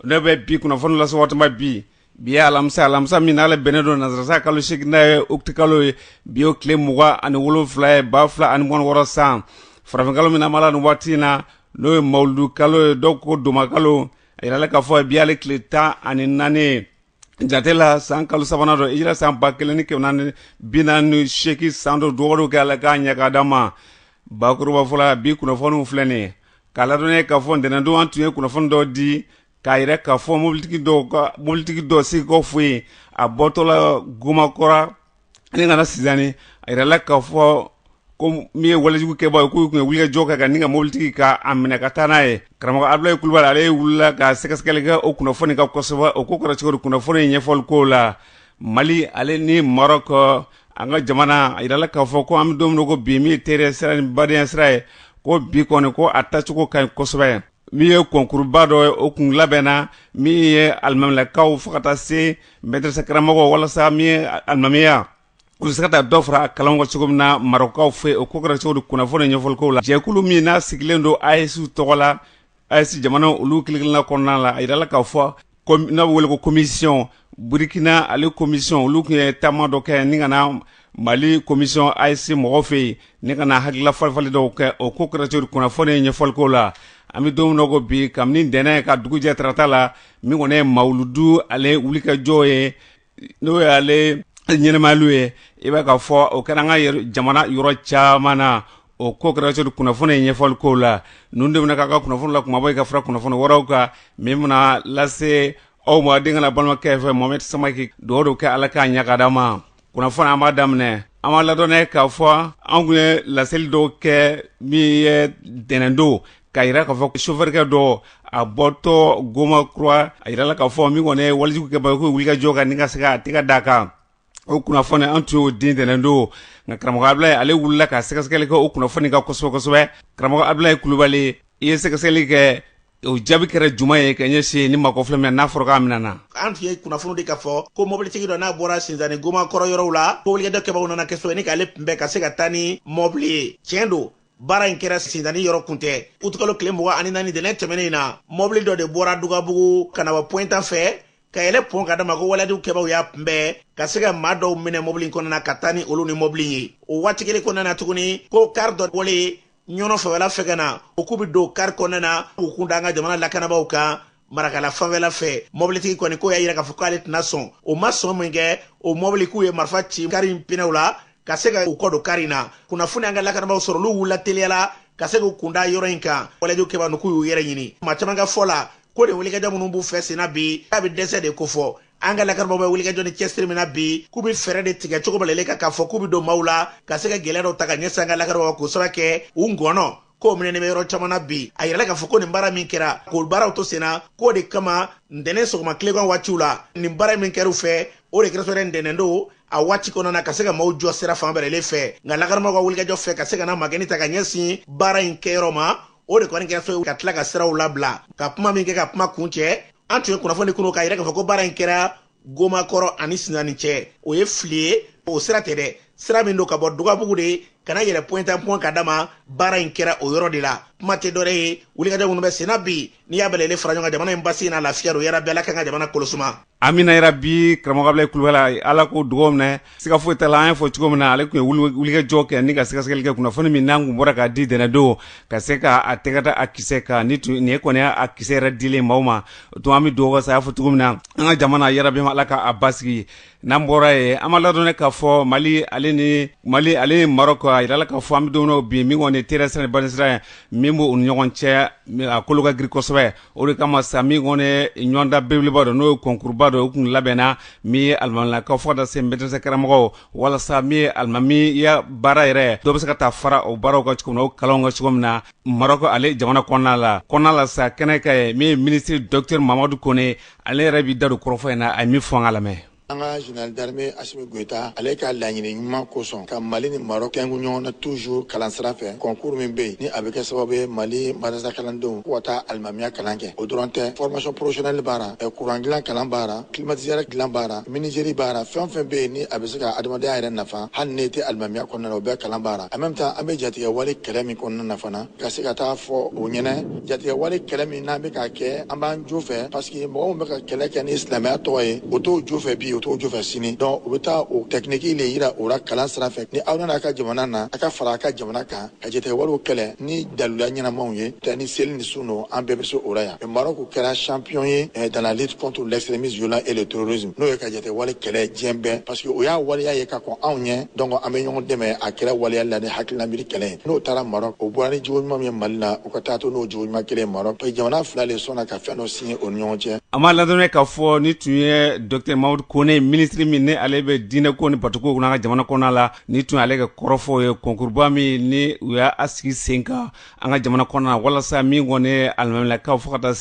ne bɛ bi kunnafoni lase waati min bi bi ye alamisa alamisa min n'ale bɛnnen don nansara san kalo seegin n'a ye uti kalo ye bi y'o tile mugan ani wolonfila ye ba fila ani mugan ni wɔɔrɔ san farafinkalo min n'an b'a la nin waati in na n'o ye mawuludu kalo ye dɔw ko dɔnbakalo a yirala k'a fɔ bi y'ale tile tan ani naani jate la san kalo sabanan don hijira san ba kelen ni kɛmɛ naani ni bi naani ni seegin san don dugawu don kɛ ala k'a ɲɛ k'a d'an ma bakurubafɔ la bi kunnafoniw filɛ nin ye k'aw ladɔnniya k'a fɔ ntɛnɛndon an tun ye kunnafoni dɔ di k'a yira k'a fɔ mobilitigi dɔw ka mobilitigi dɔ segukaw fɛ yen a bɔtɔla gomakɔrɔ ni ka na sinzani a yirala k'a fɔ ko min ye walejugukɛbaa ye k'u tun ye wulikajɔ kɛ ka ni ka mobilitigi ka a minɛ ka taa n'a ye karamɔgɔ abulayi kulubali ale wulila ka sɛgɛsɛgɛli kɛ o kunnafoni kan kosɛbɛ o ko kɛra cogo di kunnafoni ye ɲɛfɔli k'o la mali ale ni marɔk an ka jamana a yirala k'a fɔ ko an bɛ don min ko bi min ye teriya sira ni badenya sira ye ko bi kɔni ko a tacogo ka ɲi kosɛbɛ min ye kɔnkuruba dɔ ye o kun labɛnna min ye alimamiyakaw fo ka taa se mɛdɛrɛsa karamɔgɔw walasa min ye alimamiya u bɛ se ka taa dɔ fara a kalan kan cogo min na marɔkukaw fɛ o ko kɛra cogo di kunnafoni ɲɛfɔli k'o la jɛkulu min n'a sigilen don AES tɔgɔ la AES jamana olu kelen-kelenna kɔnɔna la a jirala k'a fɔ n'a bɛ wele ko commission Burukina ale commission olu tun ye taama dɔ kɛ ni ka na Mali commission AES mɔgɔw fɛ yen ni ka na hakilila falen-falen dɔw kɛ o ko kɛra cogo di kunnafoni ɲɛfɔli k'o la an bɛ don min na i ko bi kabini ntɛnɛn ka dugu jɛ tarata la min kɔni ye mawuludu ale wulikajɔ ye n'o y'ale ɲɛnamayali ye i b'a k'a fɔ o kɛra an ka jamana yɔrɔ caman na o ko kɛra cogo di kunnafoni ye ɲɛfɔli k'o la ninnu de bɛna k'an ka kunnafoni la kumabaw ye ka fara kunnafoni wɛrɛw kan min bɛna lase aw badenkɛ ani balimakɛ fɛ mohamɛdi samake dugawu don kɛ ala k'a ɲɛ k'a d'an ma kunnafoni an b'a daminɛ an b'aw ladɔnniya k'a fɔ an tun ye laseli dɔw kɛ min ye ntɛnɛndon k'a jira k'a fɔ sofɛrikɛ dɔ a bɔtɔ gomakɔrɔ a jirala k'a fɔ min kɔni ye walejugukɛbaa ye ko wulikajɔ kɛ ni ka se ka tɛgɛ d'a kan o kunnafoni an tun y'o di ntɛnɛndon nka karamɔgɔ abulayi ale wulila ka sɛgɛsɛgɛli kɛ o kunnafoni kan kosɛbɛ kosɛbɛ karamɔgɔ abulayi kulubali i ye sɛgɛsɛgɛli kɛ o jaabi kɛra jumɛn ye ka ɲɛsin nin maa kofɔlen min n'a fɔra k'a minɛna an tun ye kunnafoni di k'a fɔ ko mɔbilitigi dɔ n'a bɔra sinzani gomakɔrɔ yɔrɔw la ko walejugu kɛbagaw nana ka se ni k'ale kunbɛn ka se ka taa ni mɔbili ye tiɲɛ don baara in kɛra sinzani yɔrɔ kun tɛ utikalo tile mugan ani naani ntɛnɛn tɛmɛnen in na mɔbili dɔ de bɔra dugabugu ka na bɔ point A fɛ ka yɛlɛn pɔn kan dama ko walejugu kɛbaw y'a kunbɛn ka se ka maa dɔw minɛ mɔbili in kɔnɔna ka taa ni olu ni mɔbili ye o waati kelen kɔnɔna na tuguni ko kari dɔ bɔlen ɲɔnɔ fɛwɛla fɛ ka na o k'u bɛɛ don kari kɔnɔna na k'u kun da an ka jamana lakanabaaw kan marakala fanfɛla fɛ mɔbilitigi kɔni k'o y'a yira k'a fɔ k'ale tɛna sɔn o ma sɔn min kɛ o mɔbili k'u ye marifa ci kari in pinɛw la ka se ka u kɔ don kari in na kunnafoni an ka lakanabaaw sɔrɔ olu wulila teliya la ka se k'u kun da yɔrɔ in kan walejugu kɛbaa ninnu k'u y'u yɛrɛ ɲini maa caman ka fɔ la ko nin wulikajɔ minnu b'u fɛ senna bi k'a bɛ dɛsɛ de kofɔ an ka lakanabaaw bɛ wulikajɔ ni cɛsiri min na bi k'u bɛ fɛɛrɛ de tigɛ cogo bɛɛ lajɛlen kan k'a fɔ k'u bɛ don maaw la ka se ka gɛlɛya dɔw ta ka ɲɛsin an ka lakanabaaw k'o sabu kɛ u ngɔnɔ ko minɛnen bɛ yɔrɔ caman na bi a yirala k'a fɔ ko nin baara min kɛra k'o baaraw to senna k'o de kama ntɛnɛn sɔgɔma tilegan waatiw la nin baara min kɛr'u fɛ o de kɛra sɔrɔ ntɛnɛn don a waati kɔnɔna na ka se ka maaw jɔ sira fan bɛɛ lajɛlen fɛ nka lakanabaaw ka wulikajɔ fɛ ka se ka na magɛni ta ka ɲɛsin baara in kɛyɔrɔ ma o de kɔni kɛra sɔrɔ ka tila ka siraw labila ka kuma min kɛ ka kuma kuncɛ an tun ye kunnafoni di kunu k'a yira k'a fɔ ko baara in kɛra gomakɔrɔ ani sinzani cɛ o ye fili ye o sira tɛ dɛ sira min don ka bɔ dugabugu de ka na yɛlɛn point A pɔn ka dama baara in kɛra o yɔrɔ de la kuma tɛ dɔwɛrɛ ye wulikajɔ minnu bɛ senna bi n'i y'a bɛɛ lajɛlen fara ɲɔgɔn kan jamana in basi n'a lafiya don yarabi ala k'an ka jamana kolosuma amiina yarabi karamɔgɔ abdulayi kulubali ala k'o dugaw minɛ siga foyi t'a la an y'a fɔ cogo min na ale tun ye wulikajɔ kɛ ni ka sɛgɛsɛgɛli kɛ kunnafoni min n'an kun bɔra k'a di ntɛnɛndon ka se ka a tɛgɛ da a kisɛ kan ni tun nin ye kɔni a kisɛ yɛrɛ dilen maaw ma o tuma an bɛ dugawu kɛ sa a y'a fɔ cogo min na an ka jamana yarabi ala k'a basigi n'an bɔra yen an b'a ladɔn k'a fɔ mali ale ni mali ale ni marɔku a jirala k'a fɔ an bɛ don bi min kɔni nin teriya sira ni badenya sira ye min b'u ni ɲɔgɔn cɛ a kolo ka girin kosɛbɛ o de kama sa min kɔni ɲɔgɔndan belebeleba dɔ n'o ye kɔnkuruba dɔ o kun labɛnna min ye alimaminakaw fo ka taa se mɛdɛrɛsa karamɔgɔw walasa min ye alimamiya baara yɛrɛ dɔ bɛ se ka taa fara o baaraw kan cogo min na o kalanw kan cogo min na marɔku ale jamana kɔnɔna la kɔnɔna la sa kɛnɛ ka ye min ye minisiri dɔkitɛri mamadu kone ale yɛrɛ b'i da don kɔrɔfɔ in na a ye min fɔ an ka lamɛn an ka général d'armée Asimi Goyita ale ka laɲini ɲuman kosɔn ka Mali ni Maroc kɛngu ɲɔgɔn na toujours kalan sira fɛ concours min bɛ yen ni a bɛ kɛ sababu ye Mali madrasa kalandenw k'o ka taa alimamiya kalan kɛ o dɔrɔn tɛ formation professionnelle b'a ra courant dilan kalan b'a ra climatiseur dilan b'a ra menuiserie b'a ra fɛn o fɛn bɛ yen ni a bɛ se ka adamaden a yɛrɛ nafa hali n'e tɛ alimamiya kɔnɔna na o bɛɛ kalan b'a ra en même temps an bɛ jatigɛwale kɛlɛ min kɔnɔna na fana ka se ka t'a fɔ o ɲɛnɛ jatigɛwale kɛlɛ min n'an bɛ k'a kɛ an b'an jo fɛ paseke mɔgɔ min bɛ ka kɛlɛ kɛ ni silamɛya tɔgɔ ye o t'o jo fɛ bi o t'o jo fɛ sini dɔnki o bɛ taa o tɛkiniki le yira o la kalan sira fɛ ni aw nana a ka jamana na a ka fara a ka jamana kan ka jatigɛwalew kɛlɛ ni daluya ɲɛnamaw ye tɛ ni seli ni sun don an bɛɛ bɛ se o la yan Marɔku kɛra champion ye eh, dans la lutte contre l'extrémisme violent et le terrorisme n'o ye ka jatigɛwale kɛlɛ diɲɛ bɛɛ parce que o y'a waleya ye ka kɔn anw ɲɛ donc an bɛ ɲɔgɔn dɛmɛ a kɛra waleya la ni hakilina miiri kɛlɛ ye n'o taara Marɔk o bɔra ni jogo ɲuman min ye Mali la u ka taa to n'o jogo ɲuman kelen ye Marɔk parce que jamana fila le sɔnna ka fɛn dɔ signé o ni ɲɔgɔn cɛ an b'a ladɔnniya k'a fɔ nin tun ye docteur mamadu kone minisiri min ni ale bɛ diinɛko ni batokow kunna an ka jamana kɔnɔna la nin tun y'ale ka kɔrɔfɔw ye kɔnkuruba min ni u y'a sigi sen kan an ka jamana kɔnɔ na walasa min kɔni ye alimamilakaw fo ka taa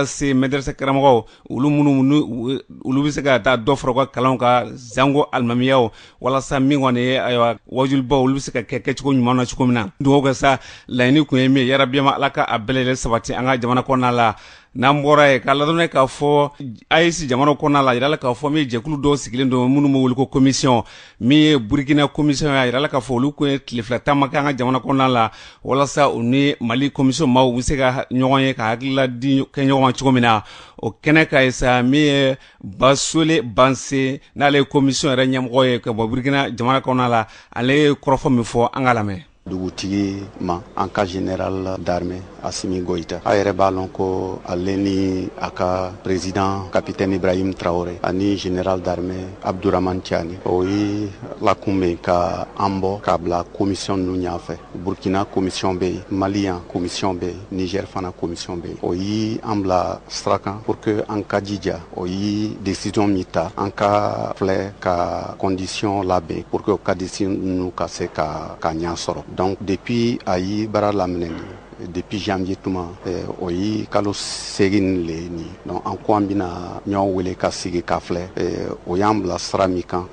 se medrese karamɔgɔw olu minnu olu bɛ se ka taa dɔ fara u ka kalan kan zanko alimamiyaw walasa min kɔni ye ayiwa wajulibaw olu bɛ se ka kɛ kɛcogo ɲuman na cogo min na dugawu kɛ sa laɲini tun ye min ye yarabiyama ala ka a bɛɛ lajɛlen sabati an ka jamana kɔnɔna la n'an bɔra yen k'a ladɔnniya k'a fɔ AES jamana kɔnɔna la, a jira la k'a fɔ min ye jɛkulu dɔw sigilen don minnu bɛ wele ko commission min ye Burukina commission ye, a jira la k'a fɔ olu tun ye tile fila taama kɛ an ka jamana kɔnɔna la walasa u ni Mali commission maaw u bɛ se ka ɲɔgɔn ye ka hakilila di kɛ ɲɔgɔn ma cogo min na, o kɛnɛ kan ye sa min ye Basole Banse n'ale ye commission yɛrɛ ɲɛmɔgɔ ye ka bɔ Burukina jamana kɔnɔna la, ale ye kɔrɔfɔ min fɔ an k'a lamɛn. dugutigi ma an ka general d'armée asimi goyita a yɛrɛ b'a lɔn ko ale ni a ka president capitaine ibrahim traore ani general d'armée abduraman tiani o ye lakunbɛn ka an bɔ k'a bila commission ninnu ɲa fɛ burkina commission be yen mali yan commission be yen niger fana commission be yen o ye an bila sira kan pour que an ka jija o ye desisɔn min ta an ka filɛ ka kɔndisiyɔn labɛn pour que o ka desisɔn ninnu ka se ka ɲɛ sɔrɔ donc depuis a ye baara laminɛ depuis janvier tuma o ye kalo segin le ye nin donc an ko an bɛna ɲɔgɔn wele ka sigi ka filɛ o y'an bila sira min kan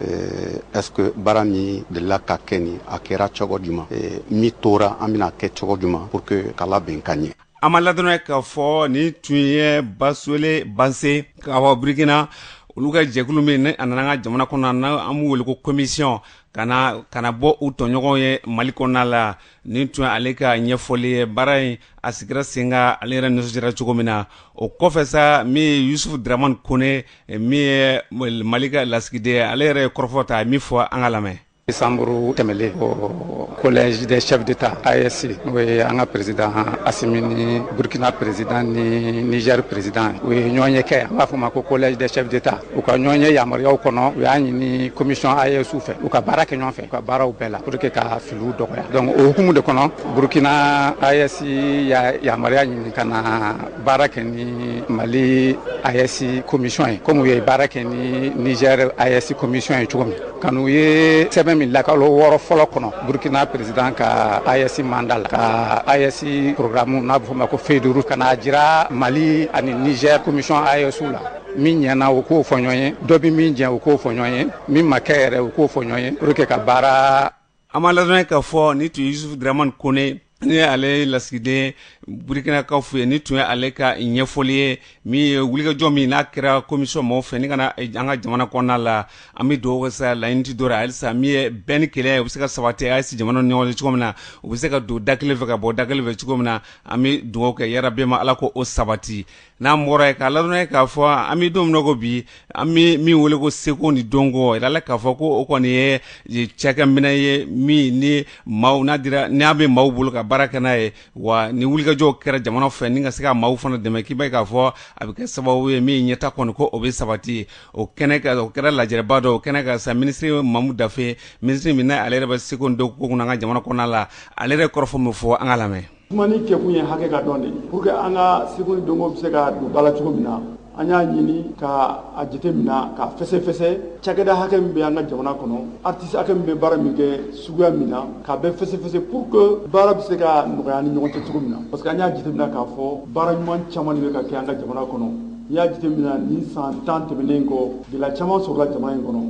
est-ce que baara min delila ka kɛ ni a kɛra cogo juman min tora an bɛna kɛ cogo juman pour que k'a labɛn ka ɲɛ an b'a ladɔnniya k'a fɔ nin tun ye basole banse ka bɔ birikina olu ka jɛkulu min n'a nana an ka jamana kɔnɔna n'an b'u weele ko komisiyɔn ka na bɔ u tɔɲɔgɔnw ye mali kɔnɔna la nin tun ye ale ka ɲɛfɔli ye baara in a sigira sen kan ale yɛrɛ nisɔndiyara cogo min na o kɔfɛ sa min ye yusufu dramani kɔnɛ min ye mali ka lasigiden ale yɛrɛ ye kɔrɔfɔ ta min fɔ an ka lamɛn Desanburu tɛmɛlen o collège des chefs d'état AES n'o ye an ka peresidan asimi ni burukina peresidan ni nizɛri peresidan u ye ɲɔgɔn ye kɛ an b'a fɔ ma ko collège des chefs d'état u ka ɲɔgɔn ye yamaruyaw kɔnɔ u y'a ɲini komisɔn AESw fɛ u ka baara kɛ ɲɔgɔn fɛ u ka baaraw bɛɛ la pour que ka filiw dɔgɔya donc o hukumu de kɔnɔ burukina AES ye yamaruya ɲini ka na baara kɛ ni mali AES komisɔn ye kɔmi u ye baara kɛ ni nizɛri AES komisɔn ye cogo min ka na u ye sɛbɛn min la kalo wɔɔrɔ fɔlɔ kɔnɔ burkina peresidan ka AES manda la ka AES porogramu n'a bɛ fɔ ma ko feuille de route ka n'a jira mali ani nizɛr komisɔn AESw la min ɲɛna u k'o fɔ ɲɔgɔn ye dɔ bɛ min jɛ u k'o fɔ ɲɔgɔn ye min ma kɛ yɛrɛ u k'o fɔ ɲɔgɔn ye pour que ka baara An b'a ladɔnniya k'a fɔ nin tun ye yusufu daraman kɔnɛ ni ale lasigiden burukinakaw fɛ yen nin tun ye ale ka ɲɛfɔli ye min ye wulikajɔ min n'a kɛra komisɔn maaw fɛ ni ka na an ka jamana kɔnɔna la an bɛ dugawu kɛ sa laɲini tɛ dɔ wɛrɛ halisa min ye bɛn ni kelenya o bɛ se ka sabati AES jamanaw ni ɲɔgɔn cɛ cogo min na u bɛ se ka don da kelen fɛ ka bɔ da kelen fɛ cogo min na an bɛ dugawu kɛ yarabi ma ala k'o sabati n'an bɔra yen k'a ladɔnniya k'a fɔ an bɛ don min na ko bi an bɛ min wele ko seko ni dɔnko yiralan k'a fɔ ko o kɔni ye cakɛminɛn ye min ni maaw n'a dira n'a bɛ maaw bolo ka baara kɛ n'a ye wa ni wulikajɔw kɛra jamana fɛ ni ka se ka maaw fana dɛmɛ k'i b'a k'a fɔ a bɛ kɛ sababu ye min ɲɛtaa kɔni ko o bɛ sabati o kɛnɛ kan o kɛra lajɛrɛba dɔ o kɛnɛ kan sa minisiri mamu dafe minisiri min ale yɛrɛ bɛ seko ni dɔnko kunna an ka jamana kɔnɔna la ale yɛrɛ kɔrɔfɔ min fɔ an k'a lamɛn Kuma nin kɛkun ye hakɛ ka dɔn de pour que an ka seko ni dɔnko bɛ se ka don ba la cogo min na an y'a ɲini ka a jate minɛ ka fɛsɛfɛsɛ cakɛda hakɛ min bɛ an ka jamana kɔnɔ artiste hakɛ min bɛ baara min kɛ suguya min na k'a bɛɛ fɛsɛfɛsɛ pour que baara bɛ se ka nɔgɔya ni ɲɔgɔn cɛ cogo min na parce que an y'a jate minɛ k'a fɔ baara ɲuman caman de bɛ ka kɛ an ka jamana kɔnɔ n'i y'a jate minɛ nin san tan tɛmɛnen kɔ gɛlɛya caman sɔrɔla jamana in kɔnɔ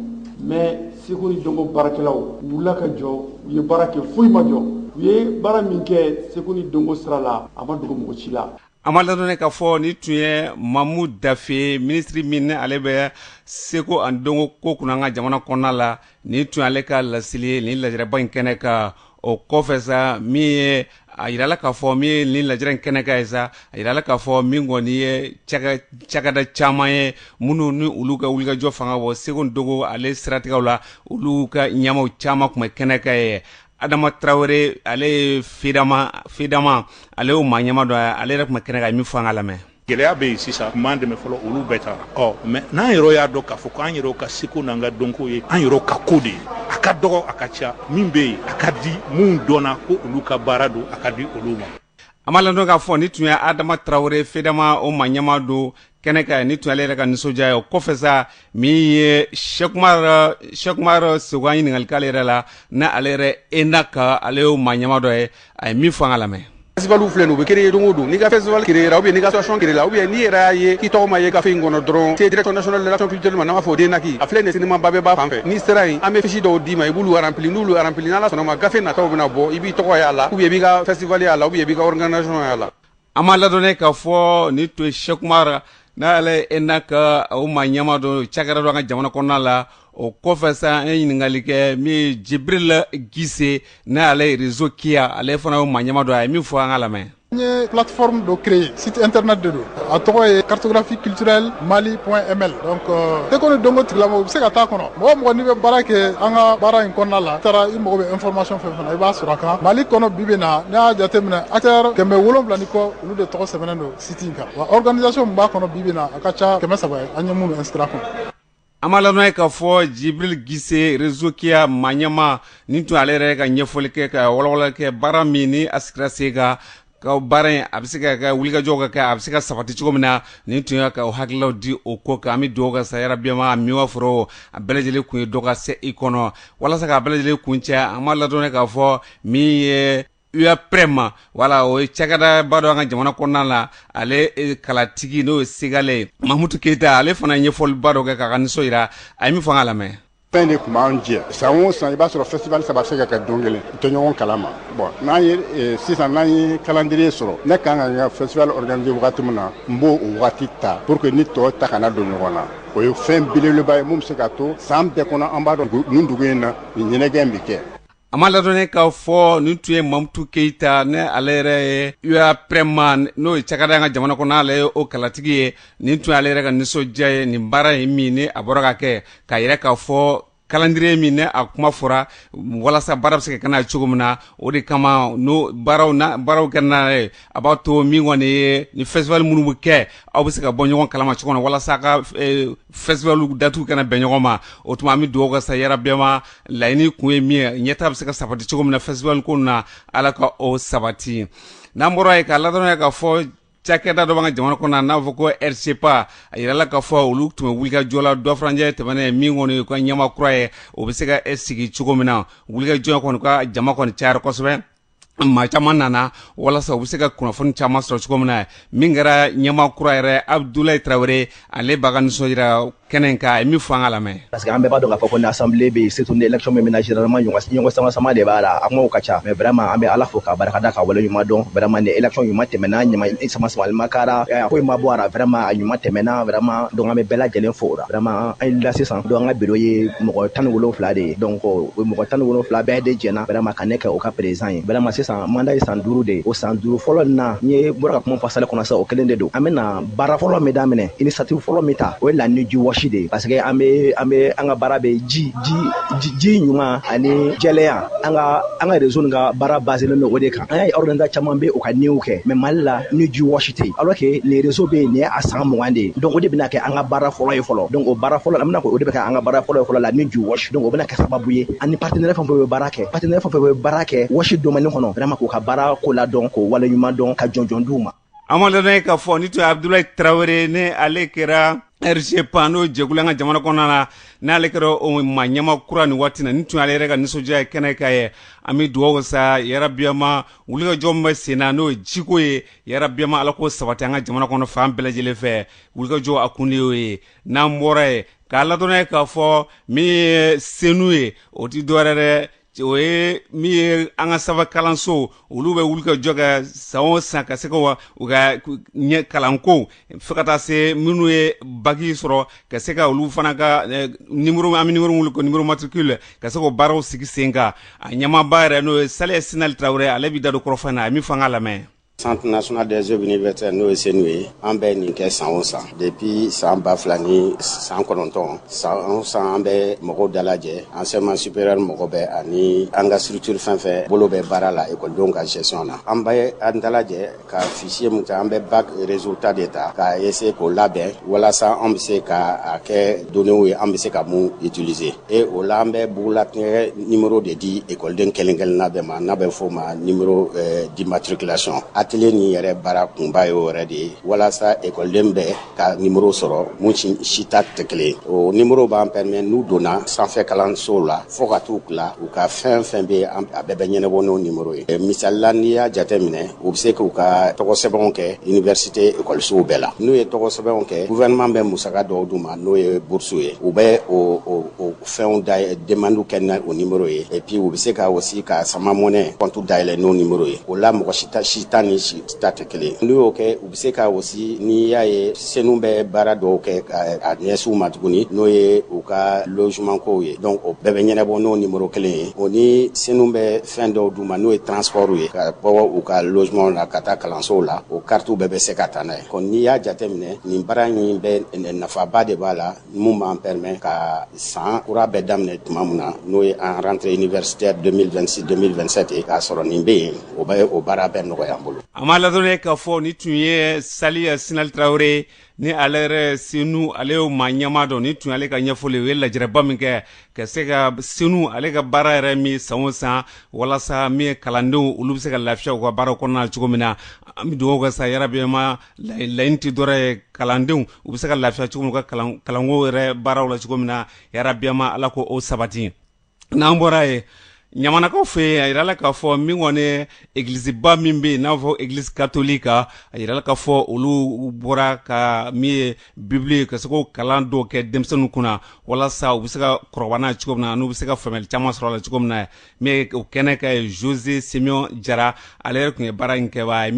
mais Seko ni dɔnko baarakɛlaw wulila ka jɔ u ye baara kɛ foyi ma jɔ u ye baara min kɛ seko ni dɔnko sira la a ma dogo mɔgɔ si la an b'a ladɔnniya k'a fɔ nin tun ye mamu dafe minisiri min ni ale bɛ seko ani dɔnko ko kunna an ka jamana kɔnɔna la nin tun ye ale ka laseli ye nin lajɛrɛba in kɛnɛ kan o kɔfɛ sa min ye a yirala k'a fɔ min ye nin lajɛrɛ in kɛnɛ kan ye sa a yirala k'a fɔ min kɔni ye cakɛda caman ye minnu ni olu ka wulikajɔ fanga bɔ seko ni dɔnko ale siratigɛw la olu ka ɲɛmaaw caman tun bɛ kɛnɛ kan yen adama tarawele ale ye fedama ale y'o maa ɲɛmaa dɔ ale yɛrɛ tun bɛ kɛnɛ kan a ye min fɔ an k'a lamɛn gɛlɛya bɛ yen sisan tun b'an dɛmɛ fɔlɔ olu bɛɛ taara ɔ mais n'an yɛrɛ y'a dɔn k'a fɔ ko an yɛrɛ ka seko n'an ka dɔnko ye an yɛrɛ ka ko de ye a ka dɔgɔ a ka ca min bɛ yen a ka di minnu dɔnna ko olu ka baara don a ka di olu ma an b'a ladɔnniya k'a fɔ nin tun ye adama tarawele fedama o maa ɲɛmaa don kɛnɛ kan nin tun ye ale yɛrɛ ka nisɔndiya ye o kɔfɛ sa min ye sɛki umaru sɛki umaru sɛku an ɲininkali k'ale yɛrɛ la ni ale yɛrɛ DNAC ale y'o maa ɲɛmaa dɔ ye a ye min fɔ an k'a lamɛn festivalw filɛ nin u bɛ créer don o don n'i ka festival créer la ou bien n'i ka association créer la ou bien n'i yɛrɛ y'a ye k'i tɔgɔ ma ye gafe in kɔnɔ dɔrɔn se direction nationale de l'action culturelle ma n'an b'a fɔ o DNAC a filɛ nin ye cinéma Babemba fan fɛ n'i sera yen an bɛ fiche dɔw d'i ma i b'olu remplir n'olu remplir n'Ala sɔnna a ma gafe nataw bɛna bɔ i b'i tɔgɔ y'a la ou bien i b'i ka festival y'a la ou bien i b'i ka organisation y'a la An ma ladɔn k'a fɔ nin tun ye Cheikh Oumar n'ale ye ENAC o maa ɲɛma don cakɛda dɔ an ka jamana kɔnɔna la o kɔfɛ sa an ye ɲininkali kɛ min ye Jibirili Gise n'ale ye réseau Kya ale fana o maa ɲɛma don a ye min fɔ an ka lamɛn n ye plateforme dɔ créer site internet de don a tɔgɔ ye cartographie culturelle Mali point ml donc seko ni dɔnko tigilamɔgɔ u bɛ se ka taa kɔnɔ mɔgɔ mɔgɔ' bɛ baara kɛ an ka baara in kɔnɔna la i taara i mago bɛ information fɛ I b'a sɔrɔ a kan mali kɔnɔ bi bi in na n'i y'a jate minɛ acteur kɛmɛ wolonwula ni kɔ olu de tɔgɔ sɛbɛnnen don site in kan wa organisation min b'a kɔnɔ bi bi in na a ka ca kɛmɛ saba ye an ye minnu inscrit a kɔnɔ an ma ladɔn ye k'a fɔ Jibirili Gise réseau Kya maa ɲɛma nin tun ale yɛrɛ ka ɲɛfɔli kɛ ka walawalali kɛ baara min ni a sigira sen kan Ka baara in a bɛ se ka wulikajɔw ka kɛ a bɛ se ka sabati cogo min na nin tun y'a ka hakililaw di o ko kan an bɛ dugawu kɛ sa yarabi a ma min fɔra a bɛɛ lajɛlen kun ye dɔ ka se i kɔnɔ walasa k'a bɛɛ lajɛlen kuncɛ an ma ladɔn k'a fɔ min ye UAPREM wala o ye cakɛdaba dɔ an ka jamana kɔnɔna la ale kalatigi n'o ye segali mamutu keyita ale fana ɲɛfɔliba dɔ kɛ k'a ka nisɔn jira a ye min fɔ an ka lamɛn fɛn de tun b'an jɛ san o san i b'a sɔrɔ festival saba bɛ se ka kɛ don kelen u tɛ ɲɔgɔn kalama bon n'an ye eh, sisan n'an ye calendrier sɔrɔ ne kan ka n ka festival organiser wagati min na n b'o o wagati ta pour que ni tɔw ta kana don ɲɔgɔn na o ye fɛn belebeleba ye min be se ka to saan bɛɛ kɔnɔ an b'a dɔn nin dugu in na nin ɲɛnajɛ be kɛ A ma ladɔnnen k'a fɔ nin tun ye Mamutu keyita ni ale yɛrɛ ye UAPREM n'o ye cakɛda ye an ka jamana kɔnɔ n'ale ye o kalatigi ye, nin tun y'ale yɛrɛ ka nisɔndiya ye nin baara in min ni a bɔra ka kɛ k'a jira k'a fɔ calendrier min ni a kuma fɔra walasa baara bɛ se ka kɛ n'a ye cogo min na, o de kama n'o baaraw n'a baaraw kɛra n'a ye, a b'a to min kɔni ye ni festival minnu bɛ kɛ aw bɛ se ka bɔ ɲɔgɔn kalama cogo min na walasa a ka Festival datugu kana bɛn ɲɔgɔn ma o tuma an bɛ dugawu kɛ sa yarabi a ma laɲini kun ye min ye ɲɛtaa bɛ se ka sabati cogo min na festival ko na ala ka o sabati n'an bɔra yen k'a ladɔnya k'a fɔ cakɛda dɔ b'an ka jamana kɔnɔ n'a fɔ ko RJEPA a yirala k'a fɔ olu tun bɛ wulikajɔ la dɔ furancɛ tɛmɛnen ye min kɔni ka ɲɛma kura ye o bɛ se ka sigi cogo min na wulikajɔ kɔni ka jama kɔni cayara kosɛbɛ maa caman nana walasa u bɛ se ka kunnafoni caman sɔrɔ cogo min na min kɛra ɲɛma kura yɛrɛ Abudulayi tarawele ale b'a ka nisɔn jira kɛnɛ kan a ye min fɔ an ka lamɛn parce que an bɛɛ b'a dɔn k'a fɔ ko ni assemblée bɛ yen surtout ni élection bɛ min na généralement ɲɔgɔn samasama de b'a la a kumaw ka ca mais vraiment an bɛ ala fo k'a barika da ka wale ɲuman dɔn vraiment ni élection ɲuman tɛmɛna ɲɔgɔn samasamali ma kɛ a la foyi ma bɔ a la vraiment a ɲuman tɛmɛna vraiment donc an bɛ bɛɛ lajɛlen fo o la vraiment an la sisan donc an ka bureau ye mɔgɔ tan wolonwula de ye donc o mɔgɔ tan wolonwula bɛɛ de jɛnna vraiment ka ne kɛ u ka président ye vraiment sisan mandat ye san duuru de ye o san duuru fɔlɔ na n ye bɔra ka kuma fɔ salle kɔnɔ sisan o kelen de don an bɛna baara fɔlɔ min daminɛ initiative fɔlɔ min ta o ye la nuit du WASH de ye parce que an bɛ an bɛ an ka baara bɛ ji ji ɲuman ani jɛlenya an ka an ka réseau in ka baara basigilen don o de kan an y'a ye organisation caman bɛ u ka nuitw kɛ mais mali la nuit du WASH tɛ yen alors que le réseau bɛ yen nin ye a san mugan de ye donc o de bɛna kɛ an ka baara fɔlɔ ye fɔlɔ donc o baara fɔlɔ an bɛna o de bɛ kɛ an ka baara fɔlɔ ye fɔlɔ la nuit du WASH donc o bɛna kɛ sababu ye ani partenaire fɛn fɛn bɛ baara kɛ partenaire fɛn fɛn bɛ baara kɛ WASH domaine kɔnɔ vraiment k'u ka baara ko ladɔn k'u waleɲuman dɔn ka jɔnjɔn d'u ma a ma ladɔnniya k'a fɔ nin tun ye abudulayi tarawele ni ale kɛra RJEPA n'o jɛkulu an ka jamana kɔnɔna na n'ale kɛra o maa ɲɛmaa kura nin waati na nin tun ale yɛrɛ ka nisɔndiya ye kɛnɛ kan yen an bɛ dugawu sa yarabi an ma wulikajɔ bɛ sen na n'o ye jiko ye yarabi an ma ala k'o sabati an ka jamana kɔnɔ fan bɛɛ lajɛlen fɛ wulikajɔ a kun de y'o ye n'an bɔra yen k'a ladɔnniya k'a fɔ min ye CENOU ye o tɛ dɔwɛrɛ dɛ o ye min ye an ka sanfɛ kalanso olu bɛ wulikajɔ kɛ san o san ka se ka u ka ɲɛ kalanko fo ka taa se minnu ye baki sɔrɔ ka se ka olu fana ka eh, nimero an bɛ nimero wele ko nimero matricule ka se k'o baaraw sigi sen kan a ɲɛmaaba yɛrɛ n'o ye Saliya Sinali Tarawele ale bɛ da don kɔrɔfɔ in na a ye min fɔ an k'a lamɛn Centre national des œuvres universitaires n'o ye CENOU ye an bɛ nin kɛ san o san depuis san ba fila ni san kɔnɔntɔn san o san an bɛ mɔgɔw dalajɛ enseignement supérieur mɔgɔ bɛɛ ani an ka structure fɛn fɛn bolo bɛ baara la ekɔlidenw ka gestion na an bɛ an dalajɛ ka fichier mun ta an bɛ bac résultat de ta ka essayer k'o labɛn walasa an bɛ se ka a kɛ données ye an bɛ se ka mun utiliser e o la an bɛ bugulatigɛ nimero de di ekɔliden kelen-kelenna bɛɛ ma n'a bɛ fɔ o ma nimero eh, d'immatriculation atelier nin yɛrɛ baara kunba ye o yɛrɛ de ye walasa ekɔliden bɛɛ ka nimero sɔrɔ mun si si ta tɛ kelen o nimero b'an permet n'u donna sanfɛ kalansow la fɔɔ ka t'u tila u ka fɛn fɛn bɛ a bɛɛ bɛ ɲɛnabɔ n'o nimero ye eh, misali la n'i y'a jate minɛ u bɛ se k'u ka tɔgɔsɛbɛnw kɛ iniversite ekɔlisow bɛɛ la n'u ye tɔgɔsɛbɛnw kɛ gouvernement bɛ musaka dɔw d'u ma n'o ye burusi ye u bɛ o fɛnw demandew kɛ n'o nimero ye et puis u bɛ se ka aussi ka Sama Money compte dayɛlɛ n'o nimero ye o la mɔgɔ si ta ni si ta tɛ kelen n'u y'o kɛ u bɛ se ka aussi n'i y'a ye CENOU bɛ baara dɔw kɛ ka ɲɛsin u ma tuguni n'o ye u ka logement kow ye donc o bɛɛ bɛ ɲɛnabɔ n'o numéro kelen ye o ni CENOU bɛ fɛn dɔw d'u ma n'o ye transport ye ka bɔ u ka logement na ka taa kalansow la o carte bɛɛ bɛ se ka taa n'a ye donc n'i y'a jateminɛ nin baara in bɛ nafaba de b'a la min b'an permet ka san kura bɛ daminɛ tuma min na n'o ye an rentrée universitaire 2026-2027 ye k'a sɔrɔ nin bɛ yen o bɛ o baara bɛɛ nɔgɔya an bolo. A ma ladɔnniya k'a fɔ nin tun ye Saliya Sinali Tarawele ni ale yɛrɛ CENOU ale y'o maa ɲɛmaa don nin tun y'ale ka ɲɛfɔli u ye lajɛrɛba min kɛ ka se ka CENOU ale ka baara yɛrɛ min san o san walasa min ye kalandenw olu bɛ se ka lafiya u ka baara kɔnɔna na cogo min na an bɛ dugawu kɛ sa yarabi an ma laɲini tɛ dɔ wɛrɛ ye kalandenw u bɛ se ka lafiya cogo u ka kalanko yɛrɛ baaraw la cogo min na yarabiyama ala ka o sabati n'an bɔra ye ɲamanakaw fɛ yen a jirala k'a fɔ min kɔni egiliziba min bɛ yen n'a fɔ egilisi katɔliki a jirala k'a fɔ olu bɔra ka min ye bibulu ye ka se ka kalan dɔw kɛ denmisɛnninw kunna walasa u bɛ se ka kɔrɔbaya n'a ye cogo min na n'u bɛ se ka faamuya caman sɔrɔ a la cogo min na o kɛnɛ kan ye zoze simeyɔn jara ale yɛrɛ tun ye baara in kɛba ye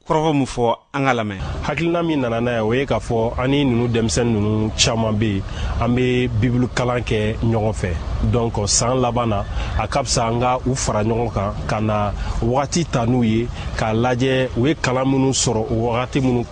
kɔrɔfɔ min fɔ an ka lamɛn hakilina min nana n'a ye o ye k'a fɔ an ni ninnu denmisɛnnin ninnu caman bɛ yen an bɛ bibulu kalan kɛ ɲɔgɔn fɛ donc san laban na a ka fisa an ka u fara ɲɔgɔn kan ka na wagati ta n'u ye k'a lajɛ u ye kalan minnu sɔrɔ o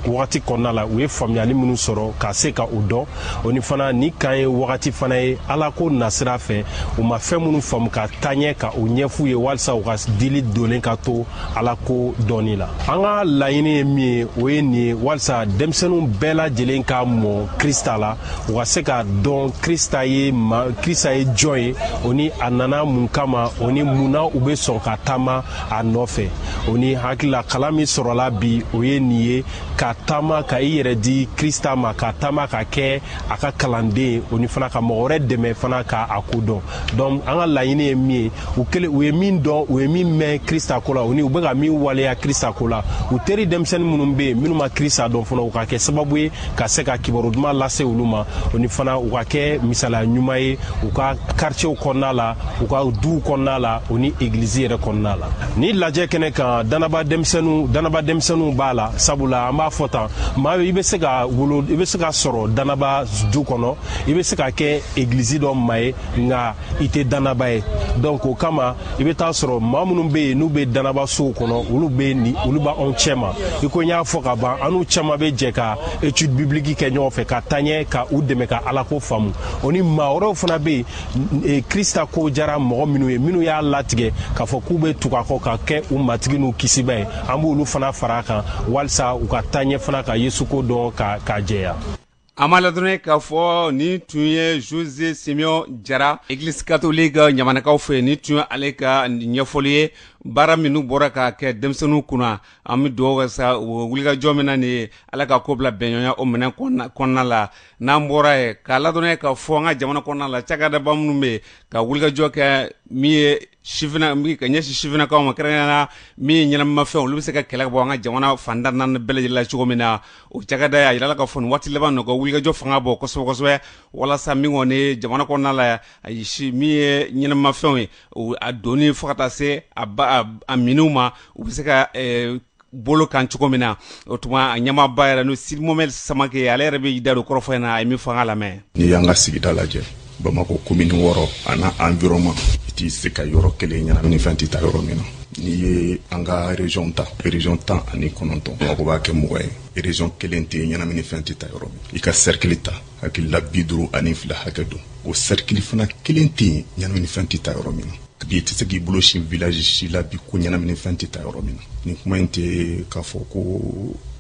wagati kɔnɔna la u ye faamuyali minnu sɔrɔ ka se ka o dɔn o ni fana nin kan ye wagati fana ye ala ko nasira fɛ u ma fɛn minnu faamu ka taaɲɛ ka o ɲɛf'u ye walisa u ka dili donnen ka to ala ko dɔnni la an ka laɲini ye min ye o ye nin ye walisa denmisɛnninw bɛɛ lajɛlen ka mɔ krista la u ka se k'a dɔn krista ye ma krista ye jɔn ye o ni a nana mun kama o ni mun na u bɛ sɔn ka taama a nɔfɛ o ni hakilila kalan min sɔrɔla bi o ye nin ye ka taama ka i yɛrɛ di krista ma ka taama ka kɛ a ka kalanden ye o ni fana ka mɔgɔ wɛrɛ dɛmɛ fana ka a ko dɔn donc an ka laɲini ye min ye u u ye min dɔn u ye min mɛn krista ko la o ni u bɛ ka min waleya krista ko la u teri denmisɛnnin minnu bɛ yen minnu ma krista dɔn fana u ka kɛ sababu ye ka se ka kibaru duman lase olu ma o ni fana u ka kɛ misaliya ɲuman ye u ka karicɛw kɔnɔna la u ka duw kɔnɔna la o ni egilizi yɛrɛ kɔnɔna la nin lajɛ kɛnɛ kan danaba denmisɛnninw b'a la sabula an b'a fɔ tan maa i bɛ se ka wolo i bɛ se ka sɔrɔ danaba du kɔnɔ i bɛ se ka kɛ egilizi dɔ maa ye nka i tɛ danaba ye donc o kama i bɛ taa sɔrɔ maa minnu bɛ yen n'u bɛ danaba sow kɔnɔ olu olu bɛ anw cɛma i ko n y'a fɔ ka ban an n'u caman bɛ jɛ ka étude biblique kɛ ɲɔgɔn fɛ ka taɲɛ ka u dɛmɛ ka alako faamu o ni maa wɛrɛw fana bɛ yen krista ko jara mɔgɔ minnu ye minnu y'a latigɛ k'a fɔ k'u bɛ tugu a kɔ ka kɛ u matigi n'u kisiba ye an b'olu fana fara a kan walisa u ka taɲɛ fana ka yesu ko dɔn ka jɛya A ma ladɔnniya k'a fɔ nin tun ye zoze simeyɔn jara egilizi katɔliki ɲamanakaw fɛ nin tun ye ale ka ɲɛfɔli ye baara minnu bɔra ka kɛ denmisɛnninw kunna an bɛ dugawu kɛ sa wulikajɔ min na nin ye ala ka ko bila bɛnɲɔgɔnya o minɛ kɔnɔna la n'an bɔra ye k'a ladɔnniya ka fɔ an ka jamana kɔnɔna la cakɛdaba minnu bɛ yen ka wulikajɔ kɛ min ye ka ɲɛsin sifinnakaw ma kɛrɛnkɛrɛnnenya la min ye ɲɛnamafɛnw olu bɛ se ka kɛlɛ ka bɔ an ka jamana fanda naani bɛɛ lajɛlen la cogo min na o cakɛda y'a jira la ka fɔ nin waati laban na u ka wulikajɔ fanga bɔ kosɛbɛ kosɛbɛ walasa min kɔni jamana kɔnɔna la a yisi min ye ɲɛnamafɛnw ye a donni fo ka taa se a minniw ma u bɛ se ka bolo kan cogo min na o tuma a ɲɛmaaba yɛrɛ n'o sidi mohamɛdi samake ale yɛrɛ bɛ da don kɔrɔfɔ in na a ye min fɔ an k'a lamɛn n'i y'an ka sigida lajɛ bamakɔ komini wɔɔrɔ a n'a environnement i tɛ se ka yɔrɔ kelen ɲɛnamini fɛn tɛ ta yɔrɔ min na n'i ye an ka région ta région tan ani kɔnɔntɔn bamakɔ b'a kɛ mugan ye région kelen tɛ yen ɲɛnamini fɛn tɛ ta yɔrɔ min i ka cercle ta hakili la bi duuru ani fila hakɛ don o cercle fana kelen tɛ yen ɲɛnamini fɛn tɛ ta yɔrɔ min na bi i tɛ se k'i bolo sin village si la bi ko ɲɛnamini fɛn tɛ ta yɔrɔ min na nin kuma in tɛ k'a fɔ ko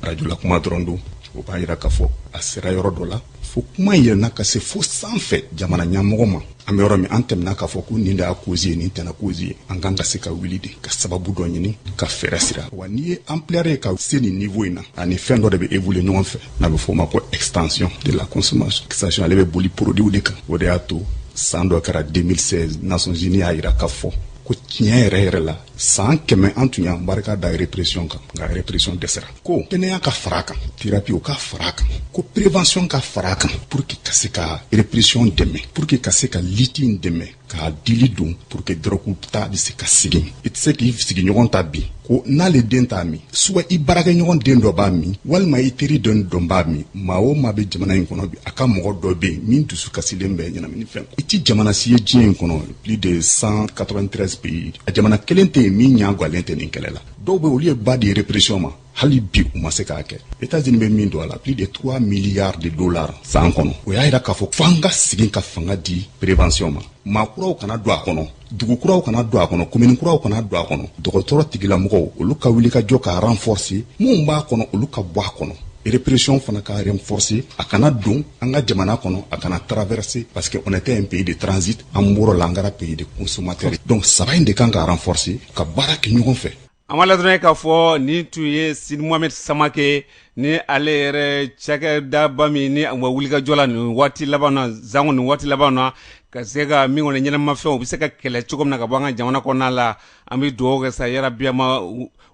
arajo la kuma dɔrɔn don o b'a yira k'a fɔ a sera yɔrɔ dɔ la fo kuma in yɛlɛnna ka se fo sanfɛ jamana ɲɛmɔgɔ ma an bɛ yɔrɔ min an tɛmɛna k'a fɔ ko nin de y'a cause ye nin tɛ a cause ye an kan ka se ka wuli de ka sababu dɔ ɲini ka fɛɛrɛ sira wa n'i ye ampleur ye ka se nin niveau in na a ni fɛn dɔ de bɛ évoluer ɲɔgɔn fɛ n'a bɛ fɔ o ma ko extension de la consommation extension ale bɛ boli produits de kan o de y'a to san dɔ kɛra 2016 Nations Unies y'a yira k'a fɔ ko tiɲɛ yɛrɛ yɛrɛ la san kɛmɛ an tun y'an barika da répression kan nka répression dɛsɛra ko kɛnɛya ka fara kan thérapie o ka fara kan ko prévention ka fara kan pour que ka se ka répression dɛmɛ pour que ka se ka lutte in dɛmɛ k'a dili don pour que dɔrɔku ta bɛ se ka segin i tɛ se k'i sigiɲɔgɔn ta bi ko n'ale den t'a min soit i baarakɛɲɔgɔn den dɔ b'a min walima i teri den dɔ b'a min maa o maa bɛ jamana in kɔnɔ bi a ka mɔgɔ dɔ bɛ yen min dusu kasilen bɛ ɲɛnamini fɛn i tɛ jamana si ye diɲɛ in kɔnɔ plus de 193 pays a jamana kelen tɛ yen min ɲaagwalen tɛ nin kɛlɛ la dɔw bɛ olu ye ba di répression ma hali bi u ma se k'a kɛ etazini bɛ min don a la plus de 3 milliards de dollars san kɔnɔ o y'a yira k'a fɔ fo an ka segin ka fanga di prévention ma maa kuraw kana don a kɔnɔ dugu kuraw kana don a kɔnɔ komini kuraw kana don a kɔnɔ dɔgɔtɔrɔ tigilamɔgɔw olu ka wuli ka jɔ ka renforcer minnu b'a kɔnɔ olu ka bɔ a kɔnɔ répression fana ka renforcer a kana don an ka jamana kɔnɔ a kana traverser parce que on était un pays de transit an bɔr'o la an kɛra pays de consommateur donc saba in de kan ka renforcer ka baara kɛ ɲɔgɔn fɛ an b'aw ladɔnniya k'a fɔ nin tun ye sidi mohamɛdi samake ni ale yɛrɛ cakɛdaba min ni wa wulikajɔ la nin waati laban na sanko nin waati laban na ka se ka min kɔni ɲɛnamini fɛnw u bɛ se ka kɛlɛ cogo min na ka bɔ an ka jamana kɔnɔna la an bɛ dugawu kɛ sa yarabi ma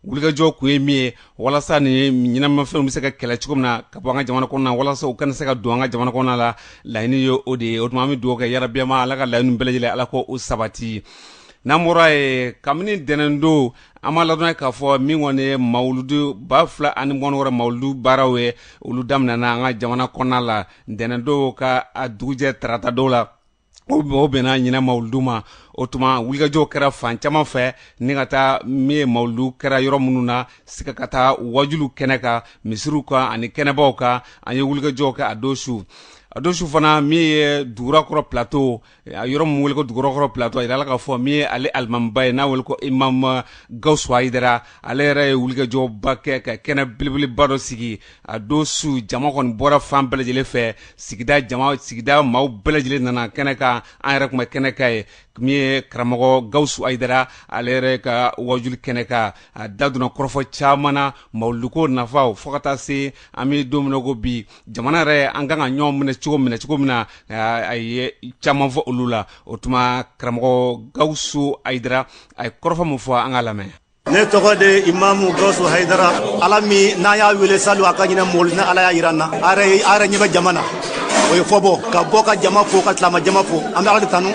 wulikajɔ kun ye min ye walasa nin ɲɛnamini fɛnw bɛ se ka kɛlɛ cogo min na ka bɔ an ka jamana kɔnɔna walasa u kana se ka don an ka jamana kɔnɔna la laɲini ye o de ye o tuma an bɛ dugawu kɛ yarabi ma ala ka laɲini bɛɛ lajɛlen ala k'o sabati n'an bɔra yen kabini ntɛnɛndon an b'aw ladɔnniya k'a fɔ min kɔni ye mawuludu ba fila ani mugan wɔɔrɔ mawuludu baaraw ye olu daminɛna an ka jamana kɔnɔna la ntɛnɛndon ka a dugujɛ tarata don la o bɛnna ɲinan mawuludu ma o tuma wulikajɔw kɛra fan caman fɛ ni ka taa min ye mawuludu kɛra yɔrɔ minnu na sika ka taa wajuliw kɛnɛ kan misiriw kan ani kɛnɛbaw kan an ye wulikajɔw kɛ a don su a don su fana min ye dugurakɔrɔ plateau yɔrɔ min wele ko dugurakɔrɔ platɔ a jirala k'a fɔ min ye ale alimamiba ye n'a wele ko imamu gawusu ayidara ale yɛrɛ ye wulikajɔba kɛ ka kɛnɛ belebeleba dɔ sigi a don su jama kɔni bɔra fan bɛɛ lajɛlen fɛ sigida sigida maaw bɛɛ lajɛlen nana kɛnɛ kan an yɛrɛ tun bɛ kɛnɛ kan ye min ye karamɔgɔ gawusu ayidara ale yɛrɛ ka wajuli kɛnɛ kan a da donna kɔrɔfɔ caman na mawuluduko nafaw fo ka taa se an bɛ don min na ko bi jamana yɛrɛ an kan ka ɲɔgɔn minɛ cogo minɛ cogo min na a ye caman fɔ olu la o tuma karamɔgɔ gawusu ayidara a ye kɔrɔfɔ min fɔ an ka lamɛn ne tɔgɔ de ye imamu gawusu hayidara ala min n'an y'a wele salo a ka ɲinɛ mɔlu ni ala y'a yira an na a yɛrɛ ɲɛ bɛ jama na o ye fɔbɔ ka bɔ ka jama fo ka tilama jama fo an bɛ ala de tanu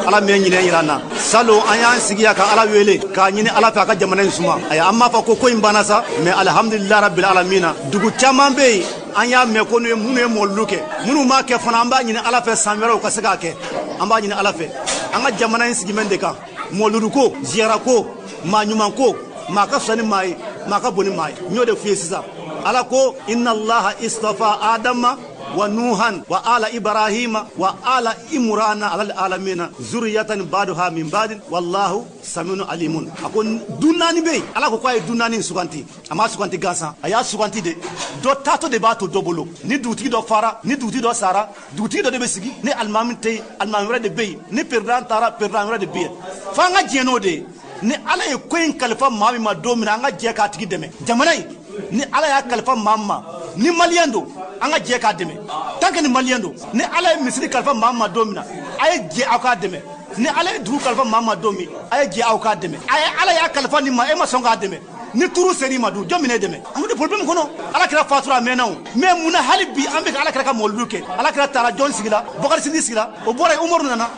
ala min ye ɲinɛ yira an na salo an y'an sigi yan ka ala wele k'a ɲini ala fɛ a ka jamana in suma ayi an m'a fɔ ko ko in banna sa mais alihamdulilayi rabbil alamina dugu caman bɛ yen an y'a mɛn ko minnu ye mɔlulu kɛ minnu m'a kɛ fana an b'a ɲini ala fɛ san wɛrɛw ka se k'a kɛ an b'a ɲini ala fɛ an ka jamana in sigimɛ de kan mɔluluko ziyarako maa ɲumanko maa ka fisa ni maa ye maa ka bon ni maa ye n y'o de f'i ye sisan ala ko inna allaha istafa adama wa nuhan wa ala ibrahima wa ala imurana alal alamina zuriyatan baduha min badin wallahu samiun alimun a ko du naani bɛ yen ala ko k'a ye du naani suganti a m'a suganti gansan a y'a suganti de dɔ taatɔ de b'a to dɔ bolo ni dugutigi dɔ fara ni dugutigi dɔ sara dugutigi dɔ de bɛ sigi ni alimami tɛ yen alimami wɛrɛ de bɛ yen ni peredan taara peredan wɛrɛ de bɛ yen fo an ka jɛn n'o de ye ni ala ye ko in kalifa maa min ma don min na an ka jɛ k'a tigi dɛmɛ jamana in ni ala y'a kalifa maa min ma ni maliyɛn don an ka jɛ k'a dɛmɛ tant que ni maliyɛn don ni ala ye misiri kalifa maa min ma don min na a ye jɛ aw k'a dɛmɛ ni ala ye dugu kalifa maa min ma don min a ye jɛ aw k'a dɛmɛ a ala y'a kalifa nin ma e ma sɔn k'a dɛmɛ ni turu ser'i ma dun jɔn bɛn'e dɛmɛ an bɛ problème kɔnɔ ala kira fatura a mɛnna o mais mun na hali bi an bɛ ka ala kira ka mɔlidu kɛ ala kira taara jɔn sigila bakari sidi sigila o bɔra yen umaru nana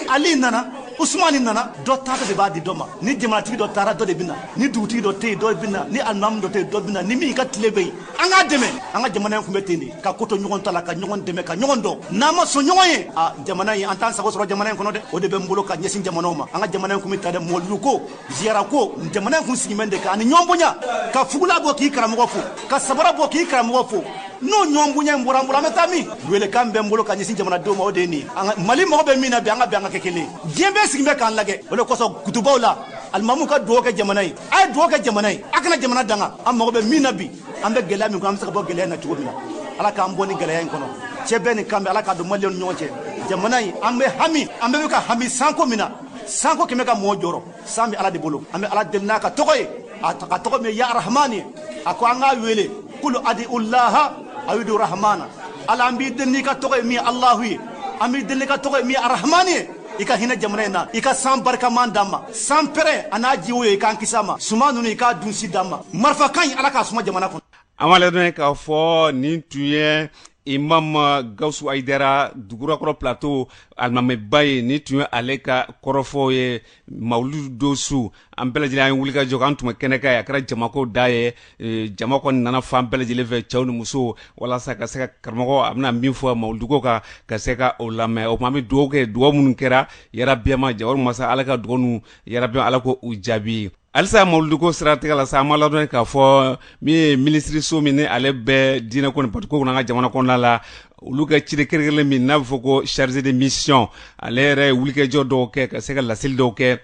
ali nana usumani nana dɔ taara de b'a di dɔ ma ni jamanatigi dɔ taara dɔ de bɛ na ni dugutigi dɔ tɛ yen dɔ bɛ na ni alimamu dɔ tɛ yen dɔ bɛ na ni min ka tile bɛ yen an k'a dɛmɛ an ka jamana in tun bɛ ten de ka ko to ɲɔgɔn ta la ka ɲɔgɔn dɛmɛ ka ɲɔgɔn dɔn n'an ma sɔn ɲɔgɔn ye a jamana in an t'an sago sɔrɔ jamana in kɔnɔ dɛ o de bɛ n bolo ka ɲɛsin jamanaw ma an ka jamana in tun bɛ tan de mɔlidu ko ziyara ko jamana in kun sigimɛn de kan ani ɲɔgɔn bonya ka fugula bɔ k'i karamɔgɔ fo ka sabara bɔ k'i karamɔgɔ fo n'o ɲɔgɔn bonya in bɔra an bolo an bɛ taa min welekan bɛ n bolo ka ɲɛsin jamanadenw ma o de ye nin mali mago bɛ min na bi an ka bɛn an ka kɛ kelen diɲɛ bɛɛ sigin bɛ k'an lagɛ o de kosɔn kutubaw la alimamu ka dugawu kɛ jamana ye a ye dugawu kɛ jamana ye a kana jamana danga an mago bɛ min na bi an bɛ gɛlɛya min kɔnɔ an bɛ se ka bɔ gɛlɛya in na cogo min na ala k'an bɔ nin gɛlɛya in kɔnɔ cɛbɛn ni kanbɛn ala k'a don maliyɛnw ni ɲɔgɔn cɛ jamana in an bɛ hami an bɛɛ bɛ ka hami sanko min na sanko kɛmɛ ka mɔɔ jɔrɔ san bɛ ala de bolo an bɛ ala deli n'a ka tɔgɔ ye a ka tɔgɔ min ye ya arahman ye a ko an k'a wele kulu adi ulaha awidu rahmana ala an b'i deli n'i ka tɔgɔ ye min ye alahu ye an b'i deli n'i ka tɔgɔ ye min ye arahmani ye i ka hinɛ jamana in na i ka san barikaman d'an ma san pɛrɛn a n'a jiwoyo i k'an kisi a ma suman ninnu i k'a dunsi d'an ma marifa kan in ala k'a suma jamana kɔnɔ an b'a ladɔnniya k'a fɔ nin tun ye imam gawusu ayidara dugurakɔrɔ plateau alimamiba ye nin tun ye ale ka kɔrɔfɔw ye mawuludu don su an bɛɛ lajɛlen an ye wulikajɔ an tun bɛ kɛnɛ kan a kɛra jamako dan ye e, jama kɔni nana fan bɛɛ lajɛlen fɛ cɛw ni musow walasa ka se ka karamɔgɔ a bɛna min fɔ mawuluduko kan ka se ka o lamɛn o tuma an bɛ dugawu kɛ dugawu minnu kɛra yarabiya ma jawari masa ala ka dugawu ninnu yarabiya ala k'u jaabi halisa mawuluduko siratigɛ la sa an b'a ladɔnniya k'a fɔ min ye minisiriso min ni ale bɛ diinɛ ko ni batoko kunna an ka jamana kɔnɔna la olu ka ciden kɛrɛnkɛrɛnlen min n'a bɛ fɔ ko chargé de mission ale yɛrɛ ye wulikajɔ dɔw kɛ ka se ka laseli dɔw kɛ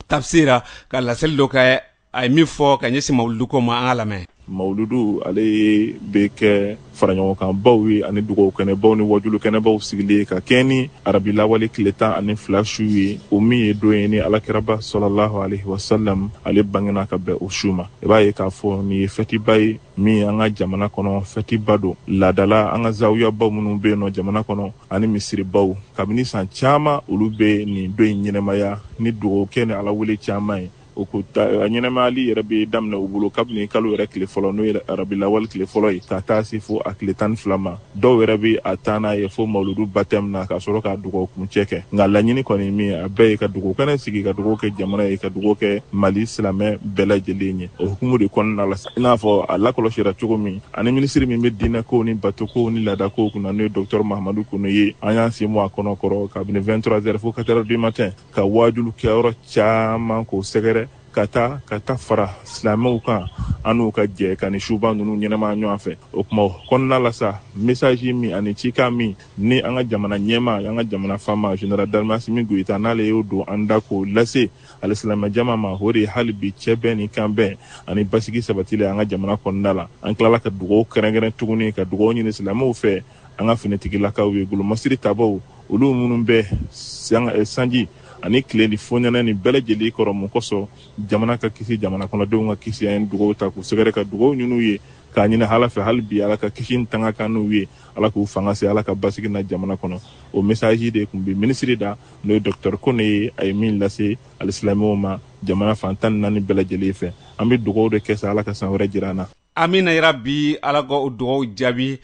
tafsira ka laseli dɔw kɛ a ye min fɔ ka ɲɛsin mawuluduko ma an k'a lamɛn Mawuludu ale bɛ kɛ faraɲɔgɔnkanbaw ye ani dugawu kɛnɛbaw ni wajulu kɛnɛbaw sigili ye ka kɛɲɛ ni arabilawale tile tan ani fila su ye o min ye don ye ni ala kiraba salalahu alayi wasalam ale bangenna ka bɛn o su ma i b'a ye k'a fɔ nin ye fɛtiba ye min ye an ka jamana kɔnɔ fɛtiba don laada la an ka zawiyabaw minnu bɛ yen nɔ jamana kɔnɔ ani misiribaw kabini san caman olu bɛ nin don in ɲɛnamaya ni dugawu kɛ ni ala wele caman ye o ko a ɲɛnamayali yɛrɛ bɛ daminɛ u bolo kabini kalo yɛrɛ tile fɔlɔ n'o ye arabilawale tile fɔlɔ ye ka taa se fo a tile tan ni fila ma dɔw yɛrɛ bɛ a taa n'a ye fo mawuludu batɛmu na ka sɔrɔ ka dugawu kuncɛ kɛ nka laɲini kɔni min a bɛɛ ye ka dugawukɛnɛ sigi ka dugawu kɛ jamana ye ka dugawu kɛ mali silamɛ bɛɛ lajɛlen ye o hukumu de kɔnɔna la i n'a fɔ a lakɔlɔsira cogo min an ni minisiri min bɛ diinɛkow ni batokow ni laadakow kunna n'o ye docteur mahamadu kone ye an y'an sen bɔ a kɔnɔ kɔrɔ kabini 23 heures fo 4 heures du matin ka wajulukɛyɔrɔ caman k'o sɛgɛrɛ ka taa ka taa fara silamɛw kan an n'u ka jɛ ka nin suba ninnu ɲɛnama ɲɔgɔn fɛ o hukumu kɔnɔna la sa mesaji min ani cikan min ni an ka jamana ɲɛmaa an ka jamana faama général d'armée asimi goyita n'ale y'o don an da k'o lase alisilamɛ jama ma o de ye hali bi cɛ bɛn ni kan bɛn ani basigi sabatili an ka jamana kɔnɔna la an tilala ka dugaw kɛrɛnkɛrɛn tuguni ka dugaw ɲini silamɛw fɛ an ka finitigilakaw ye golomasiri tabaw olu minnu bɛ eh, sanji ani tile ni fonɛnɛ ni bɛɛ lajɛlen kɔrɔ mun kosɔn jamana ka kisi jamana kɔnɔdenw ka kisi an ye dugaw ta k'u sɛgɛrɛ ka dugaw ɲin'u ye k'a ɲini ala fɛ hali bi ala ka kisi ni tanga k'an n'u ye ala k'u fanga se ala ka basigi na jamana kɔnɔ o mesaji de tun bɛ minisiri da n'o ye docteur kone ye a ye min lase alisilamɛw ma jamana fan tan ni naani bɛɛ lajɛlen fɛ an bɛ dugaw de kɛ sa ala ka san wɛrɛ jira an na amina yarabi ala ka o dugawu jaabi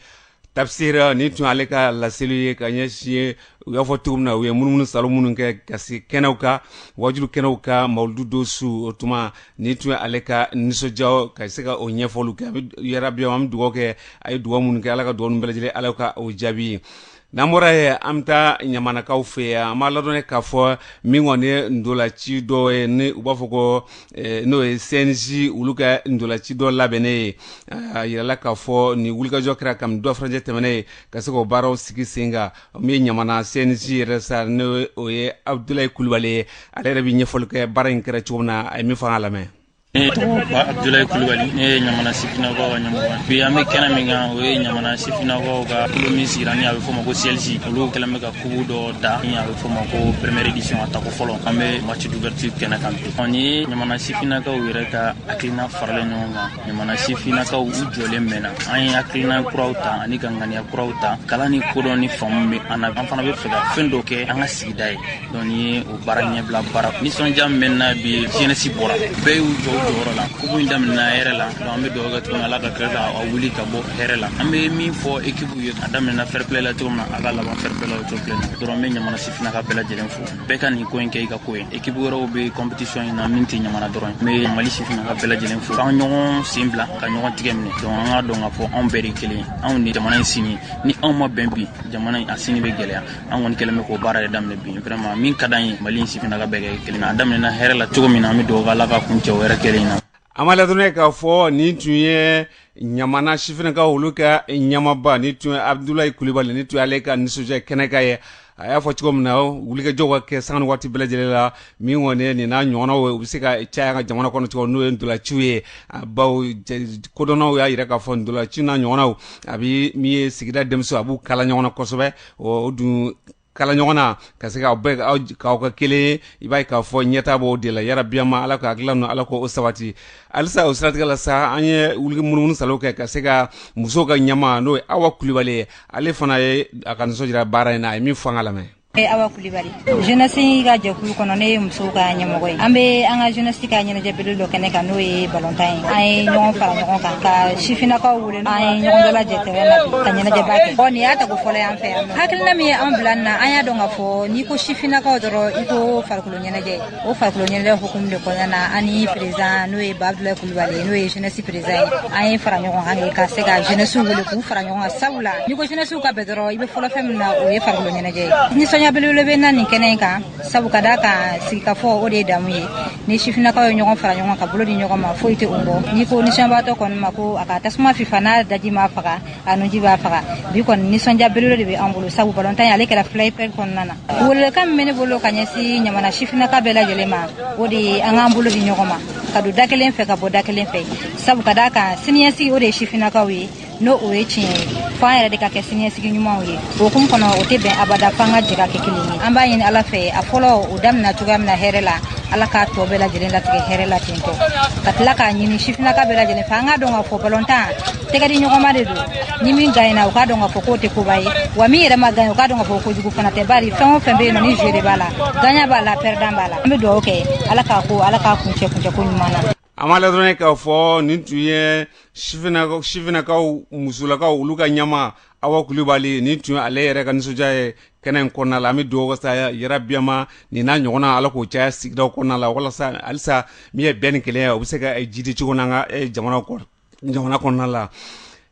tafsira nin tun ye ale ka laseli ye ka ɲɛsin ye u y'a fɔ cogo min na u ye munumunu salo minnu kɛ ka se kɛnɛw kan wajulu kɛnɛw kan mawuludu don su o tuma nin tun ye ale ka nisɔndiya ka se ka o ɲɛfɔliw kɛ yarabi an bɛ dugawu kɛ a ye dugawu minnu kɛ ala ka dugawu ninnu bɛɛ lajɛlen ala ka o jaabi n'an bɔra yen an bɛ taa ɲamanakaw fɛ yan an b'a ladɔnniya k'a fɔ min kɔni ye ntolaci dɔ ye ni u b'a fɔ ko eh, n'o ye cnj olu ka ntolaci dɔ labɛnnen ye a yirala k'a fɔ nin wulikajɔ kɛra kami don furancɛ tɛmɛnen ye ka se k'o baaraw sigi sen kan min ye ɲamana cnj yɛrɛ sa n'o ye abudulayi kulubali ye ale yɛrɛ bɛ ɲɛfɔli kɛ baara in kɛra cogo min na a ye min fɔ an k'a lamɛn Ne tɔgɔ bɛ Abudulayi Kulubali ne ye ɲamana sifinnakaw ka ɲɛmɔgɔ bi an bɛ kɛnɛ min kan o ye ɲamana sifinnakaw ka kulu min sigira ni a bɛ fɔ ma ko CLJ olu kɛlen bɛ ka kupu dɔ da ni a bɛ fɔ ma ko première édition a tako fɔlɔ an bɛ match d'ouverture kɛnɛ kan bi ɔ nin ye ɲamana sifinnakaw yɛrɛ ka hakilina faralen ɲɔgɔn kan ɲamana sifinnakaw u jɔlen mɛnna an ye hakilina kuraw ta ani ka ŋaniya kuraw ta kalan ni kodɔn ni faamu bɛ an na an fana b'a fɛ ka fɛn dɔ kɛ an ka sigida ye donc nin ye o baara ɲɛbila baara nisɔndiya min bɛ n na bi jɛnɛsi bɔra bɛɛ y'u jɔ jɔyɔrɔ la kupu in daminɛna hɛrɛ la donc an bɛ dugawu kɛ tuguni ala k'a kɛ ka wuli ka bɔ hɛrɛ la an bɛ min fɔ ekipu ye a daminɛna fɛrɛpilɛ la cogo min na a ka laban fɛrɛpilɛ la o cogo kelen na dɔrɔn n bɛ ɲamana sifinnakaw bɛɛ lajɛlen fo bɛɛ ka nin ko in kɛ i ka ko ye ekipu wɛrɛw bɛ kɔnpitisiyɔn in na min tɛ ɲamana dɔrɔn n bɛ mali sifinnakaw bɛɛ lajɛlen fo k'an ɲɔgɔn sen bila ka ɲɔgɔn tigɛ minɛ donc an k'a dɔn k'a fɔ anw bɛɛ de kelen anw ni jamana in sini ni anw ma bɛn bi jamana in a sini bɛ gɛlɛya an kɔni kɛlen bɛ k'o baara yɛrɛ daminɛ bi vraiment min ka d'an ye mali in sifinnakaw bɛɛ kɛ kelen a daminɛna hɛrɛ la cogo min na an bɛ dugawu kɛ ala k'a kuncɛ hɛrɛ kelen na an b'a ladɔnniya k'a fɔ nin tun ye ɲamana sifinakaw olu ka ɲɛmaaba nin tun ye abudulayi kulibali nin tun ye ale ka nisɔndiya kɛnɛ kan ye a y'a fɔ cogo min na wulikajɔ ka kɛ sanga ni waati bɛɛ lajɛlen la min kɔni nin n'a ɲɔgɔnnaw ye u bɛ se ka caya ka jamana kɔnɔ cogo n'o ye ntolaciw ye bawo kodɔnnaw y'a jira k'a fɔ ntolaci n'a ɲɔgɔnnaw a bɛ min ye sigida denmisɛnw a b'u kala ɲɔgɔn na kosɛbɛ o dun kala ɲɔgɔn na ka se k'aw bɛɛ k'aw kɛ 1 ye i b'a ye k'a fɔ ɲɛtaa b'o de la yarabi an ma Ala ka hakilila ninnu Ala k'o sabati halisa o siratigɛ la sa an ye wuli ka munumunu salo kɛ ka se ka musow ka ɲɛmaa n'o ye Awa Kulibali ye ale fana ye a ka nisɔn jira baara in na a ye min fɔ an k'a lamɛn ne ye Awa Kulibali jenɛsi ka jɛkulu kɔnɔ ne ye musow ka ɲɛmɔgɔ ye an bɛ an ka jenɛsi ka ɲɛnajɛbele dɔ kɛnɛ kan n'o ye balontan ye an ye ɲɔgɔn fara ɲɔgɔn kan ka sifinakaw wele an ye ɲɔgɔn dalajɛ tɛrɛn na ka ɲɛnajɛba kɛ bɔn nin y'a tako fɔlɔ y'an fɛ yan hakilina min ye an bila nin na an y'a dɔn k'a fɔ n'i ko sifinakaw dɔrɔn i ko farikolo ɲɛnajɛ o farikolo ɲɛnajɛ hukumu de kɔnɔna na an ni perezidan n'o ye babila kulubali n'o ye jenesi perezidan ye an ye fara ɲɔgɔn kan kɛ ka se ka jenesiw wele k'u fara ɲɔgɔn kan sabula n'i ko jenesiw ka bɛn dɔrɔn i bɛ fɔlɔ fɛn min na o ye farikolo ɲɛnajɛ ye nisɔndiya belebele bɛ n na nin kɛnɛ in kan sabu ka d'a kan sigikafɔ o de ye damu ye ni sifinnakaw ye ɲɔgɔn fara ɲɔgɔn ka bolo di ɲɔgɔn ma foyi tɛ o bɔ n'i ko nisɔndiyabaatɔ kɔni ma ko a ka tasuma fifa n'a daji m'a faga a nuji b'a faga bi kɔni nisɔndiya belebele de bɛ an bolo sabu balontan ye ale kɛra fair play kɔnɔna na welewelekan min bɛ ne bolo ka ɲɛsin ɲamana sifinnaka bɛɛ lajɛlen ma o de ye an k'an bolo di ɲɔgɔn ma ka don da kelen fɛ ka bɔ da kelen fɛ sabu ka d'a kan siniɲɛsigi o de ye sifinnakaw ye n'o o ye tiɲɛ ye fo an yɛrɛ de ka kɛ siniɲɛsigi ɲumanw ye o hukumu kɔnɔ o tɛ bɛn abada fo an ka jɛ ka kɛ kelen ye an b'a ɲini ala fɛ a fɔlɔ o daminɛ cogoya min na hɛrɛ la ala k'a tɔ bɛɛ lajɛlen latigɛ hɛrɛ la tentɔ ka tila k'a ɲini sifinnaka bɛɛ lajɛlen fɛ an k'a dɔn k'a fɔ balontan tɛgɛdiɲɔgɔnma de don ni min ganyena o k'a dɔn k'a fɔ k'o tɛ koba ye wa min yɛrɛ ma ganye o k'a dɔn k'a fɔ kojugu fana tɛ bari fɛn o fɛn bɛ yen nɔ ni jeu de b'a la ganyan b'a la pɛrɛdan b'a la an bɛ dugawu kɛ ala k'a ko ala k'a kuncɛ kuncɛ ko ɲuman na an b'a la dɔrɔn k'a fɔ nin tun ye sifinakaw sifinakaw musolakaw olu ka ɲɛmaa awa kulibali nin tun ye ale yɛrɛ ka nisɔndiya ye kɛnɛ in kɔnɔna la an bɛ dugawu kɛ sa yarabi yama nin n'a ɲɔgɔnna ala k'o caya sigidaw kɔnɔna la walasa halisa min ye bɛn ni kelenya ye o bɛ se ka jidi cogo n'an ka jamana kɔnɔ jamana kɔnɔna la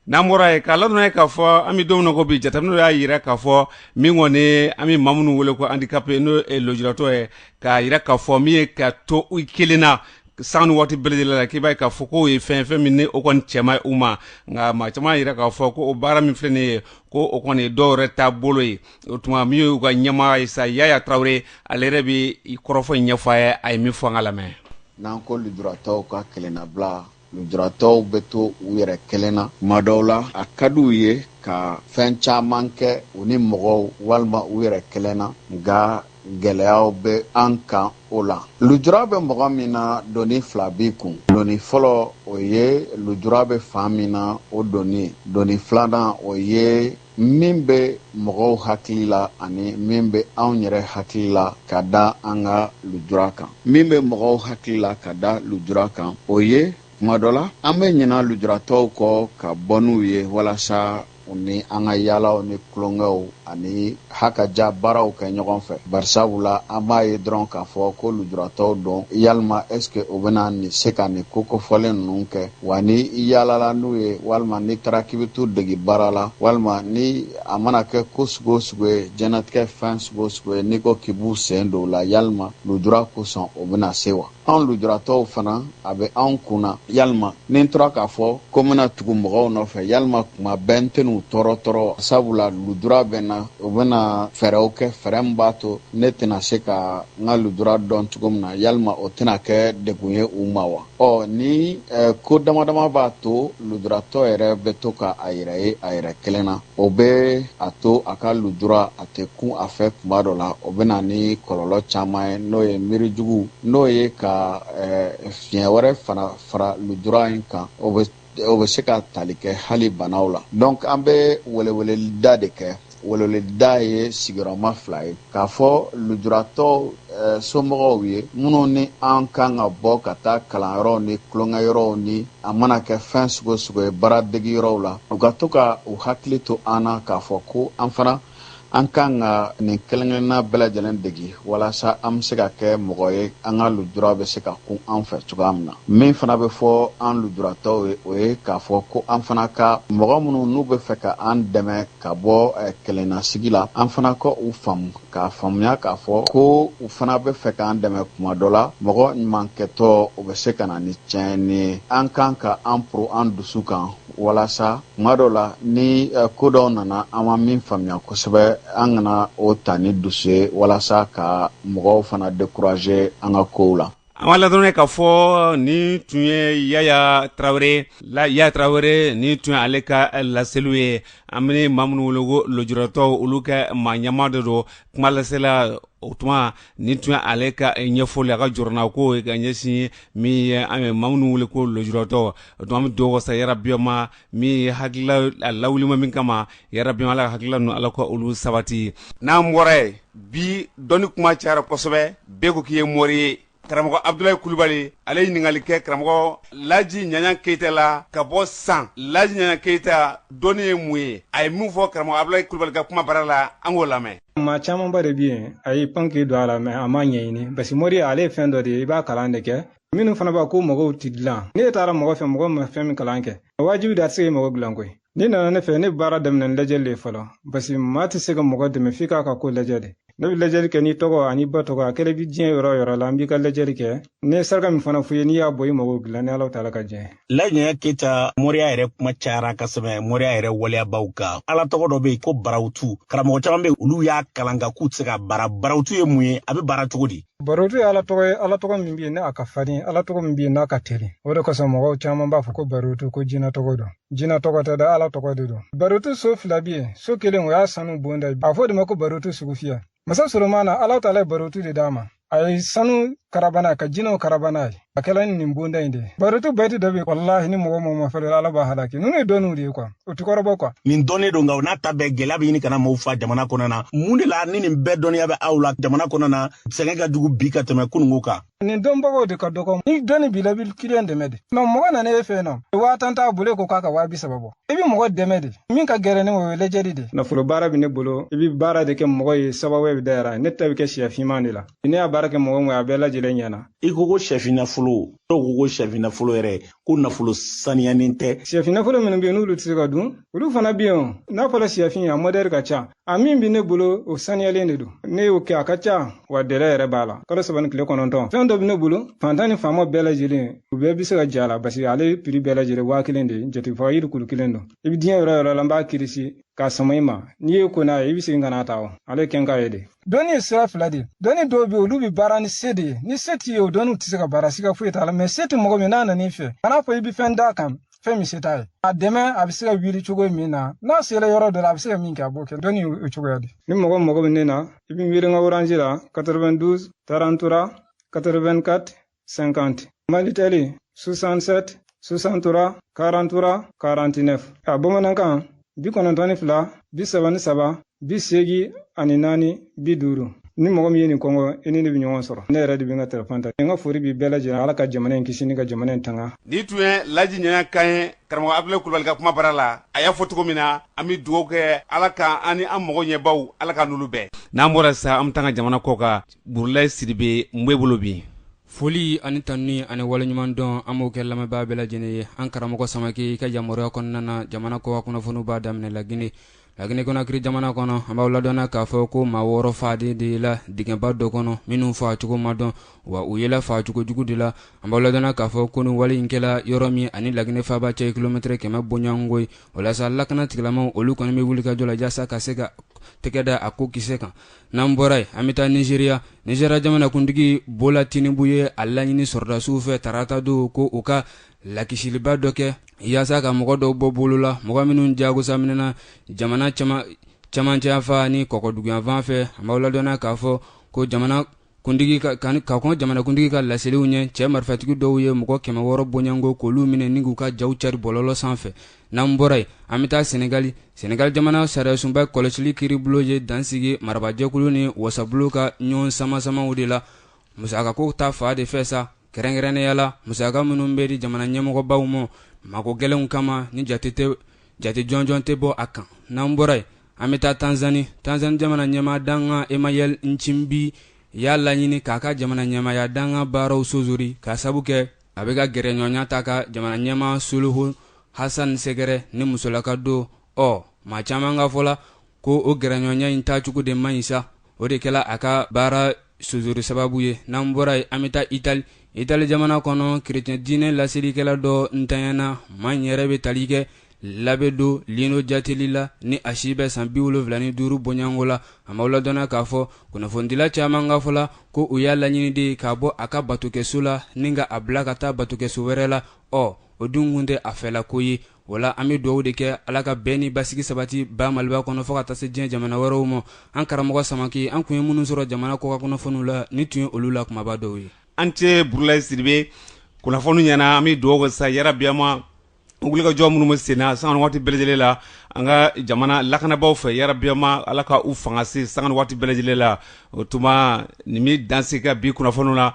n'an bɔra yen k'a ladɔnniya k'a fɔ an bɛ don min na ko bi jateminɛw y'a jira k'a fɔ min kɔni an bɛ maa minnu wele ko andikape n'o ye lujuratɔ ye k'a jira k'a fɔ min ye ka to u kelen na san ni waati bɛɛ la k'i b'a ye k'a fɔ k'o ye fɛn fɛn min o kɔni cɛ man ɲi u ma nka maa caman y'a jira k'a fɔ ko o baara min filɛ nin ye ko o kɔni ye dɔw yɛrɛ taabolo ye o tuma min y'u ka ɲɛmaa ye sa yaya tarawele ale yɛrɛ bɛ kɔrɔfɔ in ɲɛfɔ an ye a ye min fɔ an k'a lamɛn n'an ko lujuratɔw ka kelennabila lujuratɔw bɛ to u yɛrɛ kelen na tuma dɔw la a ka di u ye ka fɛn caman kɛ u ni mɔgɔw walima u yɛrɛ kelen na nka gɛlɛyaw bɛ an kan o la lujura bɛ mɔgɔ min na doni fila b'i kun doni fɔlɔ o ye lujura bɛ fan min na o doni ye doni filanan o ye min bɛ mɔgɔw hakili la ani min bɛ anw yɛrɛ hakili la ka da an ka lujura kan min bɛ mɔgɔw hakili la ka da lujura kan o ye tuma dɔ la an bɛ ɲina lujuratɔw kɔ ka bɔ n'u ye walasa u ni an ka yaalaw ni tulonkɛw ani hakaja baaraw kɛ ɲɔgɔn fɛ barisabu la an b'a ye dɔrɔn k'a fɔ ko lujuratɔw don yalima ɛske u bɛna nin se ka nin ko kofɔlen ninnu kɛ wa ni i yaalala n'u ye walima n'i taara k'i bɛ t'u degi baara la walima ni a mana kɛ ko sugu o sugu ye diɲɛnatigɛ fɛn sugu o sugu ye n'i ko k'i b'u sen don o la yalima lujura kosɔn o bɛna se wa anw lujuratɔw fana a bɛ anw kun na yalima ni n tora k'a fɔ ko n bɛna tugu mɔgɔw nɔfɛ yalima kuma bɛɛ n tɛn'u tɔɔrɔ tɔɔrɔ wa sabula lujura bɛ n na u bɛna fɛɛrɛw kɛ fɛɛrɛ min b'a to ne tɛna se ka n ka lujura dɔn cogo min na yalima o tɛna kɛ degun ye u ma wa ɔ ni eh, ko dama dama b'a to lujuratɔ yɛrɛ bɛ to ka a yɛrɛ ye a yɛrɛ kelen na o bɛ a to a ka lujura a tɛ kun a fɛ kuma dɔ la o bɛ na ni kɔlɔlɔ caman ye n'o ye miiri jugu n'o ye ka eh, fiɲɛ wɛrɛ fana fara lujura in kan o bɛ o bɛ se ka tali kɛ hali banaw la donc an bɛ weleweleda de kɛ weleweleda ye sigiyɔrɔma fila ye k'a fɔ lujuratɔw somɔgɔw ye minnu ni an kan ka bɔ ka taa kalanyɔrɔw ni tulonkɛ yɔrɔw ni a mana kɛ fɛn sugu o sugu ye baara degi yɔrɔw la u ka to ka u hakili to an na k'a fɔ ko an fana an kan ka nin kelenkelenna bɛɛ lajɛlen degi walasa an bɛ se ka kɛ mɔgɔ ye an ka lujura bɛ se ka kun an fɛ cogoya min na min fana bɛ fɔ an lujuratɔw ye o ye k'a fɔ ko an fana ka mɔgɔ minnu n'u bɛ fɛ ka an dɛmɛ ka bɔ eh, kelennasigi la an fana ka u faamu k'a faamuya k'a fɔ ko u fana bɛ fɛ k'an dɛmɛ kuma dɔ la mɔgɔ ɲuman kɛtɔ o bɛ se ka na ni tiɲɛni ye an kan ka an poro an dusu kan walasa kuma dɔ la ni eh, ko dɔw nana an ma min faamuya kosɛbɛ an kana o ta ni dusu ye walasa ka mɔgɔw fana dekuraje an ka kow la an b'aw ladɔnniya k'a fɔ nin tun ye yaya tarawele yaya tarawele nin tun ye ale ka laseliw ye an bɛ maa minnu wele ko lujuratɔw olu ka maa ɲɛmaa dɔ don kuma lasela o tuma ni tun ye ale ka ɲɛfɔli a ka jɔrɔnako ka ɲɛsin min ye an ye maa minnu wele ko lujuratɔ o tuma an bɛ don wasa yarabi a ma min ye hakilila a lawulila min kama yarabi a ma ala ka hakilila ninnu ala ka olu sabati n'an bɔra yen bi dɔnni kuma cayara kosɛbɛ bɛɛ ko k'i ye mori ye karamɔgɔ abudulayi kulubali ale ye ɲininkali kɛ karamɔgɔ laji ɲaɲa keyita la ka bɔ san laji ɲaɲa keyita dɔnni ye mun ye a ye min fɔ karamɔgɔ abudulayi kulubali ka kuma bara la an k'o lamɛn maa camanba de bi yen a y'i pan k'i don a la mais a m'a ɲɛɲini parce que moriya ale ye fɛn dɔ de ye i b'a kalan de kɛ minnu fana b'a ko mɔgɔw tɛ dilan ne taara mɔgɔ fɛ mɔgɔ ma fɛn min kalan kɛ wajibi de a tɛ se ka mɔgɔ dilan koyi n'i nana ne fɛ ne bɛ baara daminɛ ni lajɛli de ye fɔlɔ parce que maa tɛ se ka mɔgɔ dɛmɛ f'i k'a ka ko lajɛ de ne bɛ lajɛli kɛ n'i tɔgɔ an'i ba tɔgɔ a kɛlen bɛ diɲɛ yɔrɔ o yɔrɔ la n b'i ka lajɛli kɛ Ne ye saraka min fana f'i ye n'i y'a bɔ i mago dilan ni ala taala ka jɛn laji ɲaɲan keyita moriya yɛrɛ kuma cayara kosɛbɛ moriya yɛrɛ waleyabaw kan ala tɔgɔ dɔ be yen ko barawutu karamɔgɔ caman be olu y'a kalan nka u tɛ se k'a baara barawutu ye mun ye a be baara cogo di barotu ye ala tɔgɔ ye ala tɔgɔ min be yen ni a ka farin ala tɔgɔ min be yen n'a ka teli o de kosɔn mɔgɔw caman b'a fɔ ko barotu ko jina tɔgɔ don jina tɔgɔ tɛ dɛ ala tɔgɔ de don barotu so fila be yen so kelen o ye sanu bonda ye a fɔ de ma ko barotu sugu fiyɛ masa solomana ala taala ye barotu de d'a ma a ye sanu karaba n'a ka jinɛw karaba n'a ye a kɛla ni nin bonda in de ye barotu bɛyiti dɔ bɛ walahi ni mɔgɔ mɔgɔ ma fɛrɛ ala b'a halaki ninnu ye dɔnniw de ye kuwa o ti kɔrɔbɔ kuwa nin dɔnnen don nka o n'a ta bɛɛ gɛlɛya bɛ ɲini ka na maaw fa jamana kɔnɔ na mun de la ni nin bɛɛ dɔnniya bɛ aw la jamana kɔnɔ na sɛgɛn ka jugu bi ka tɛmɛ kununko kan nin dɔnbagaw de ka dɔgɔ ni dɔnni b'i la i bɛ kiliyan dɛmɛ de mɛ mɔgɔ nana e fɛ yen nɔ waa tan t'a bolo e ko k'a ka waa bi saba bɔ i bɛ mɔgɔ dɛmɛ de min ka gɛlɛn o ye lajɛli de nafolo baara bɛ ne bolo i bɛ baara de kɛ mɔgɔ ye sababu bɛ dayɛlɛ ne ta bɛ kɛ sɛ finman de la ne y'a baara kɛ mɔgɔ min ye a bɛɛ lajɛlen ɲɛna i ko ko sɛfin nafolo dɔw ko ko sɛfin nafolo yɛrɛ ko nafolo saniyanen tɛ sɛfin nafolo minnu bɛ yen n'olu tɛ se ka dun olu fana bɛ yen n'a fɔra sɛfin a modɛli ka ca a min bɛ ne bolo o saniyalen de don ne y'o kɛ a ka ca wa dɛlɛ yɛrɛ b'a la kalo saba ni tile kɔnɔntɔn fɛn dɔ bɛ ne bolo fantan ni faama bɛɛ lajɛlen u bɛɛ bɛ se ka j'a la pasikɛ ale piri bɛɛ lajɛlen waa kelen de ye jatigifa yiri kulu kelen don i bɛ diɲɛ yɔrɔ yɔrɔ la n b'a kirisi k'a sama i ma n'i ye ko ɲa ye i bɛ segin ka n'a ta o ale kɛ n k'a ye de dɔnni ye sira fila de dɔnni dɔw bɛ olu bɛ baara ni se de ye ni se t'i ye o dɔnniw tɛ se ka baara siga foyi t'a la mɛ se tɛ mɔgɔ min n'a nan'i fɛ kan'a fɔ i bɛ fɛn d'a kan fɛn min se t'a ye a dɛmɛ a bɛ se ka wuli cogo min na n'a sera yɔrɔ dɔ la a bɛ se ka min kɛ a b'o kɛ dɔnni o cogoya de ni mɔgɔ mago bɛ ne na i bɛ n wele n ka orange la 92 33 84 50 malitɛli 67 63 43 49 a bamanankan bi kɔnɔntɔn ni fila bi saba ni saba bi seegi ani naani bi duuru ni mɔgɔ min ye nin kɔngɔ i ni ne bɛ ɲɔgɔn sɔrɔ ne yɛrɛ de bɛ n ka telefɔni ta n ka foli b'i bɛɛ lajɛlen ala ka jamana in kisi ni ka jamana in tanga nin tun ye laji ɲaɲan kan ye karamɔgɔ abdulayi kulubali ka kumabara la a y'a fɔ cogo min na an bɛ dugawu kɛ ala ka an ni an mago ɲɛbaw ala k'an n'olu bɛn n'an bɔra sisan an bɛ taa an ka jamana kɔ kan burulayi sidibe n bɛ bolo bi foli ani tanuni ani waleɲumandɔn an b'o kɛ lamɛnbaa bɛɛ lajɛlen ye an karamɔgɔ samake i ka yamaruya kɔnɔna na jamana kɔkan kunnafoniw b'a daminɛ lagine lagine konakiri jamana kɔnɔ an b'aw ladɔnniya k'a fɔ ko maa wɔɔrɔ faalen yela dingɛba dɔ kɔnɔ minnu faacogo ma dɔn wa u yela faacogo jugu de la an b'aw ladɔnniya k'a fɔ ko nin wale in kɛla yɔrɔ min ani lagine faaba cɛ kilomɛtɛrɛ kɛmɛ bɔɲɔgɔnko ye walasa lakana tigilamaw olu kɔni bɛ wulikajɔ la jasa ka se ka tɛgɛ da a ko kisɛ kan n'an bɔra yen an bɛ taa nizeriya nizeriya jamanakuntigi bola tinubu ye a laɲini sɔrɔdasiw fɛ tarata don ko u ka lakisiliba dɔ kɛ yaasa ka mɔgɔ dɔw bɔ bolo la mɔgɔ minnu jagosaminɛna jamana camancɛyanfan ni kɔkɔduguyanfan fɛ an b'aw ladɔnna k'a fɔ ko jamana kuntigi ka kɔn jamanakuntigi ka laseliw ɲɛ cɛ marifatigi dɔw ye mɔgɔ kɛmɛ wɔɔrɔ bɔɲɔgɔnko k'olu minɛ ni k'u ka jaw cari bɔlɔlɔ sanfɛ n'an bɔra yen an bɛ taa senegali senegali jamana sariyasunba kɔlɔsili kiiribulon ye dansigi marabajɛkulu ni wasabulon ka ɲɔgɔn samasamaw de la musakako ta fan de fɛ sa kɛrɛnkɛrɛnnenya la musaka minnu bɛ di jamana ɲɛmɔgɔbaw ma mago gɛlɛnw kama ni jate tɛ jate jɔnjɔn tɛ bɔ a kan n'an bɔra yen an bɛ taa tanzani tanzani jamana ɲɛmaa dankan emmanuel nchimbi y'a laɲini k'a ka jamana ɲɛmaaya dankan baaraw sozori k'a sabu kɛ a bɛ ka gɛrɛɲɔgɔnya ta ka jamana ɲɛmaa suluhu hasan sɛgɛrɛ ni musolaka don ɔ maa caman ka fɔ la ko o gɛrɛɲɔgɔnya in taacogo de man ɲi sa o de kɛla a ka baara sozori sababu ye n'an bɔra yen an bɛ taa itali itali jamana kɔnɔ kerecɛn diinɛ laselikɛla dɔ ntanyana maa in yɛrɛ bɛ tali kɛ labe don lino jateli la ni a si bɛ san biwolonwula ni duuru bɔɲɔgɔnko la an b'aw ladɔnna k'a fɔ kunnafonidila caman ka fɔ la ko u y'a laɲini de k'a bɔ a ka batokɛso la ni ka a bila ka taa batokɛso wɛrɛ la ɔ o dun kun tɛ a fɛla ko ye wala an bɛ dugawu de kɛ ala ka bɛn ni basigi sabati ba maliba kɔnɔ fɔ ka taa se diɲɛ jamana wɛrɛw ma an karamɔgɔ samake an kun ye minnu sɔrɔ jamana kɔkan kunnafoniw la nin tun ye olu la kunbaba dɔw ye an tɛ burulayi sidibe kunnafoni ɲɛna an bɛ dugawu kɛ sa yarabiyama wulikajɔ minnu bɛ senna sanga ni waati bɛɛ lajɛlen la an ka jamana lakanabaw fɛ yarabiyama ala ka u fanga se sanga ni waati bɛɛ lajɛlen la o tuma nin bɛ danse ka bi kunnafoniw la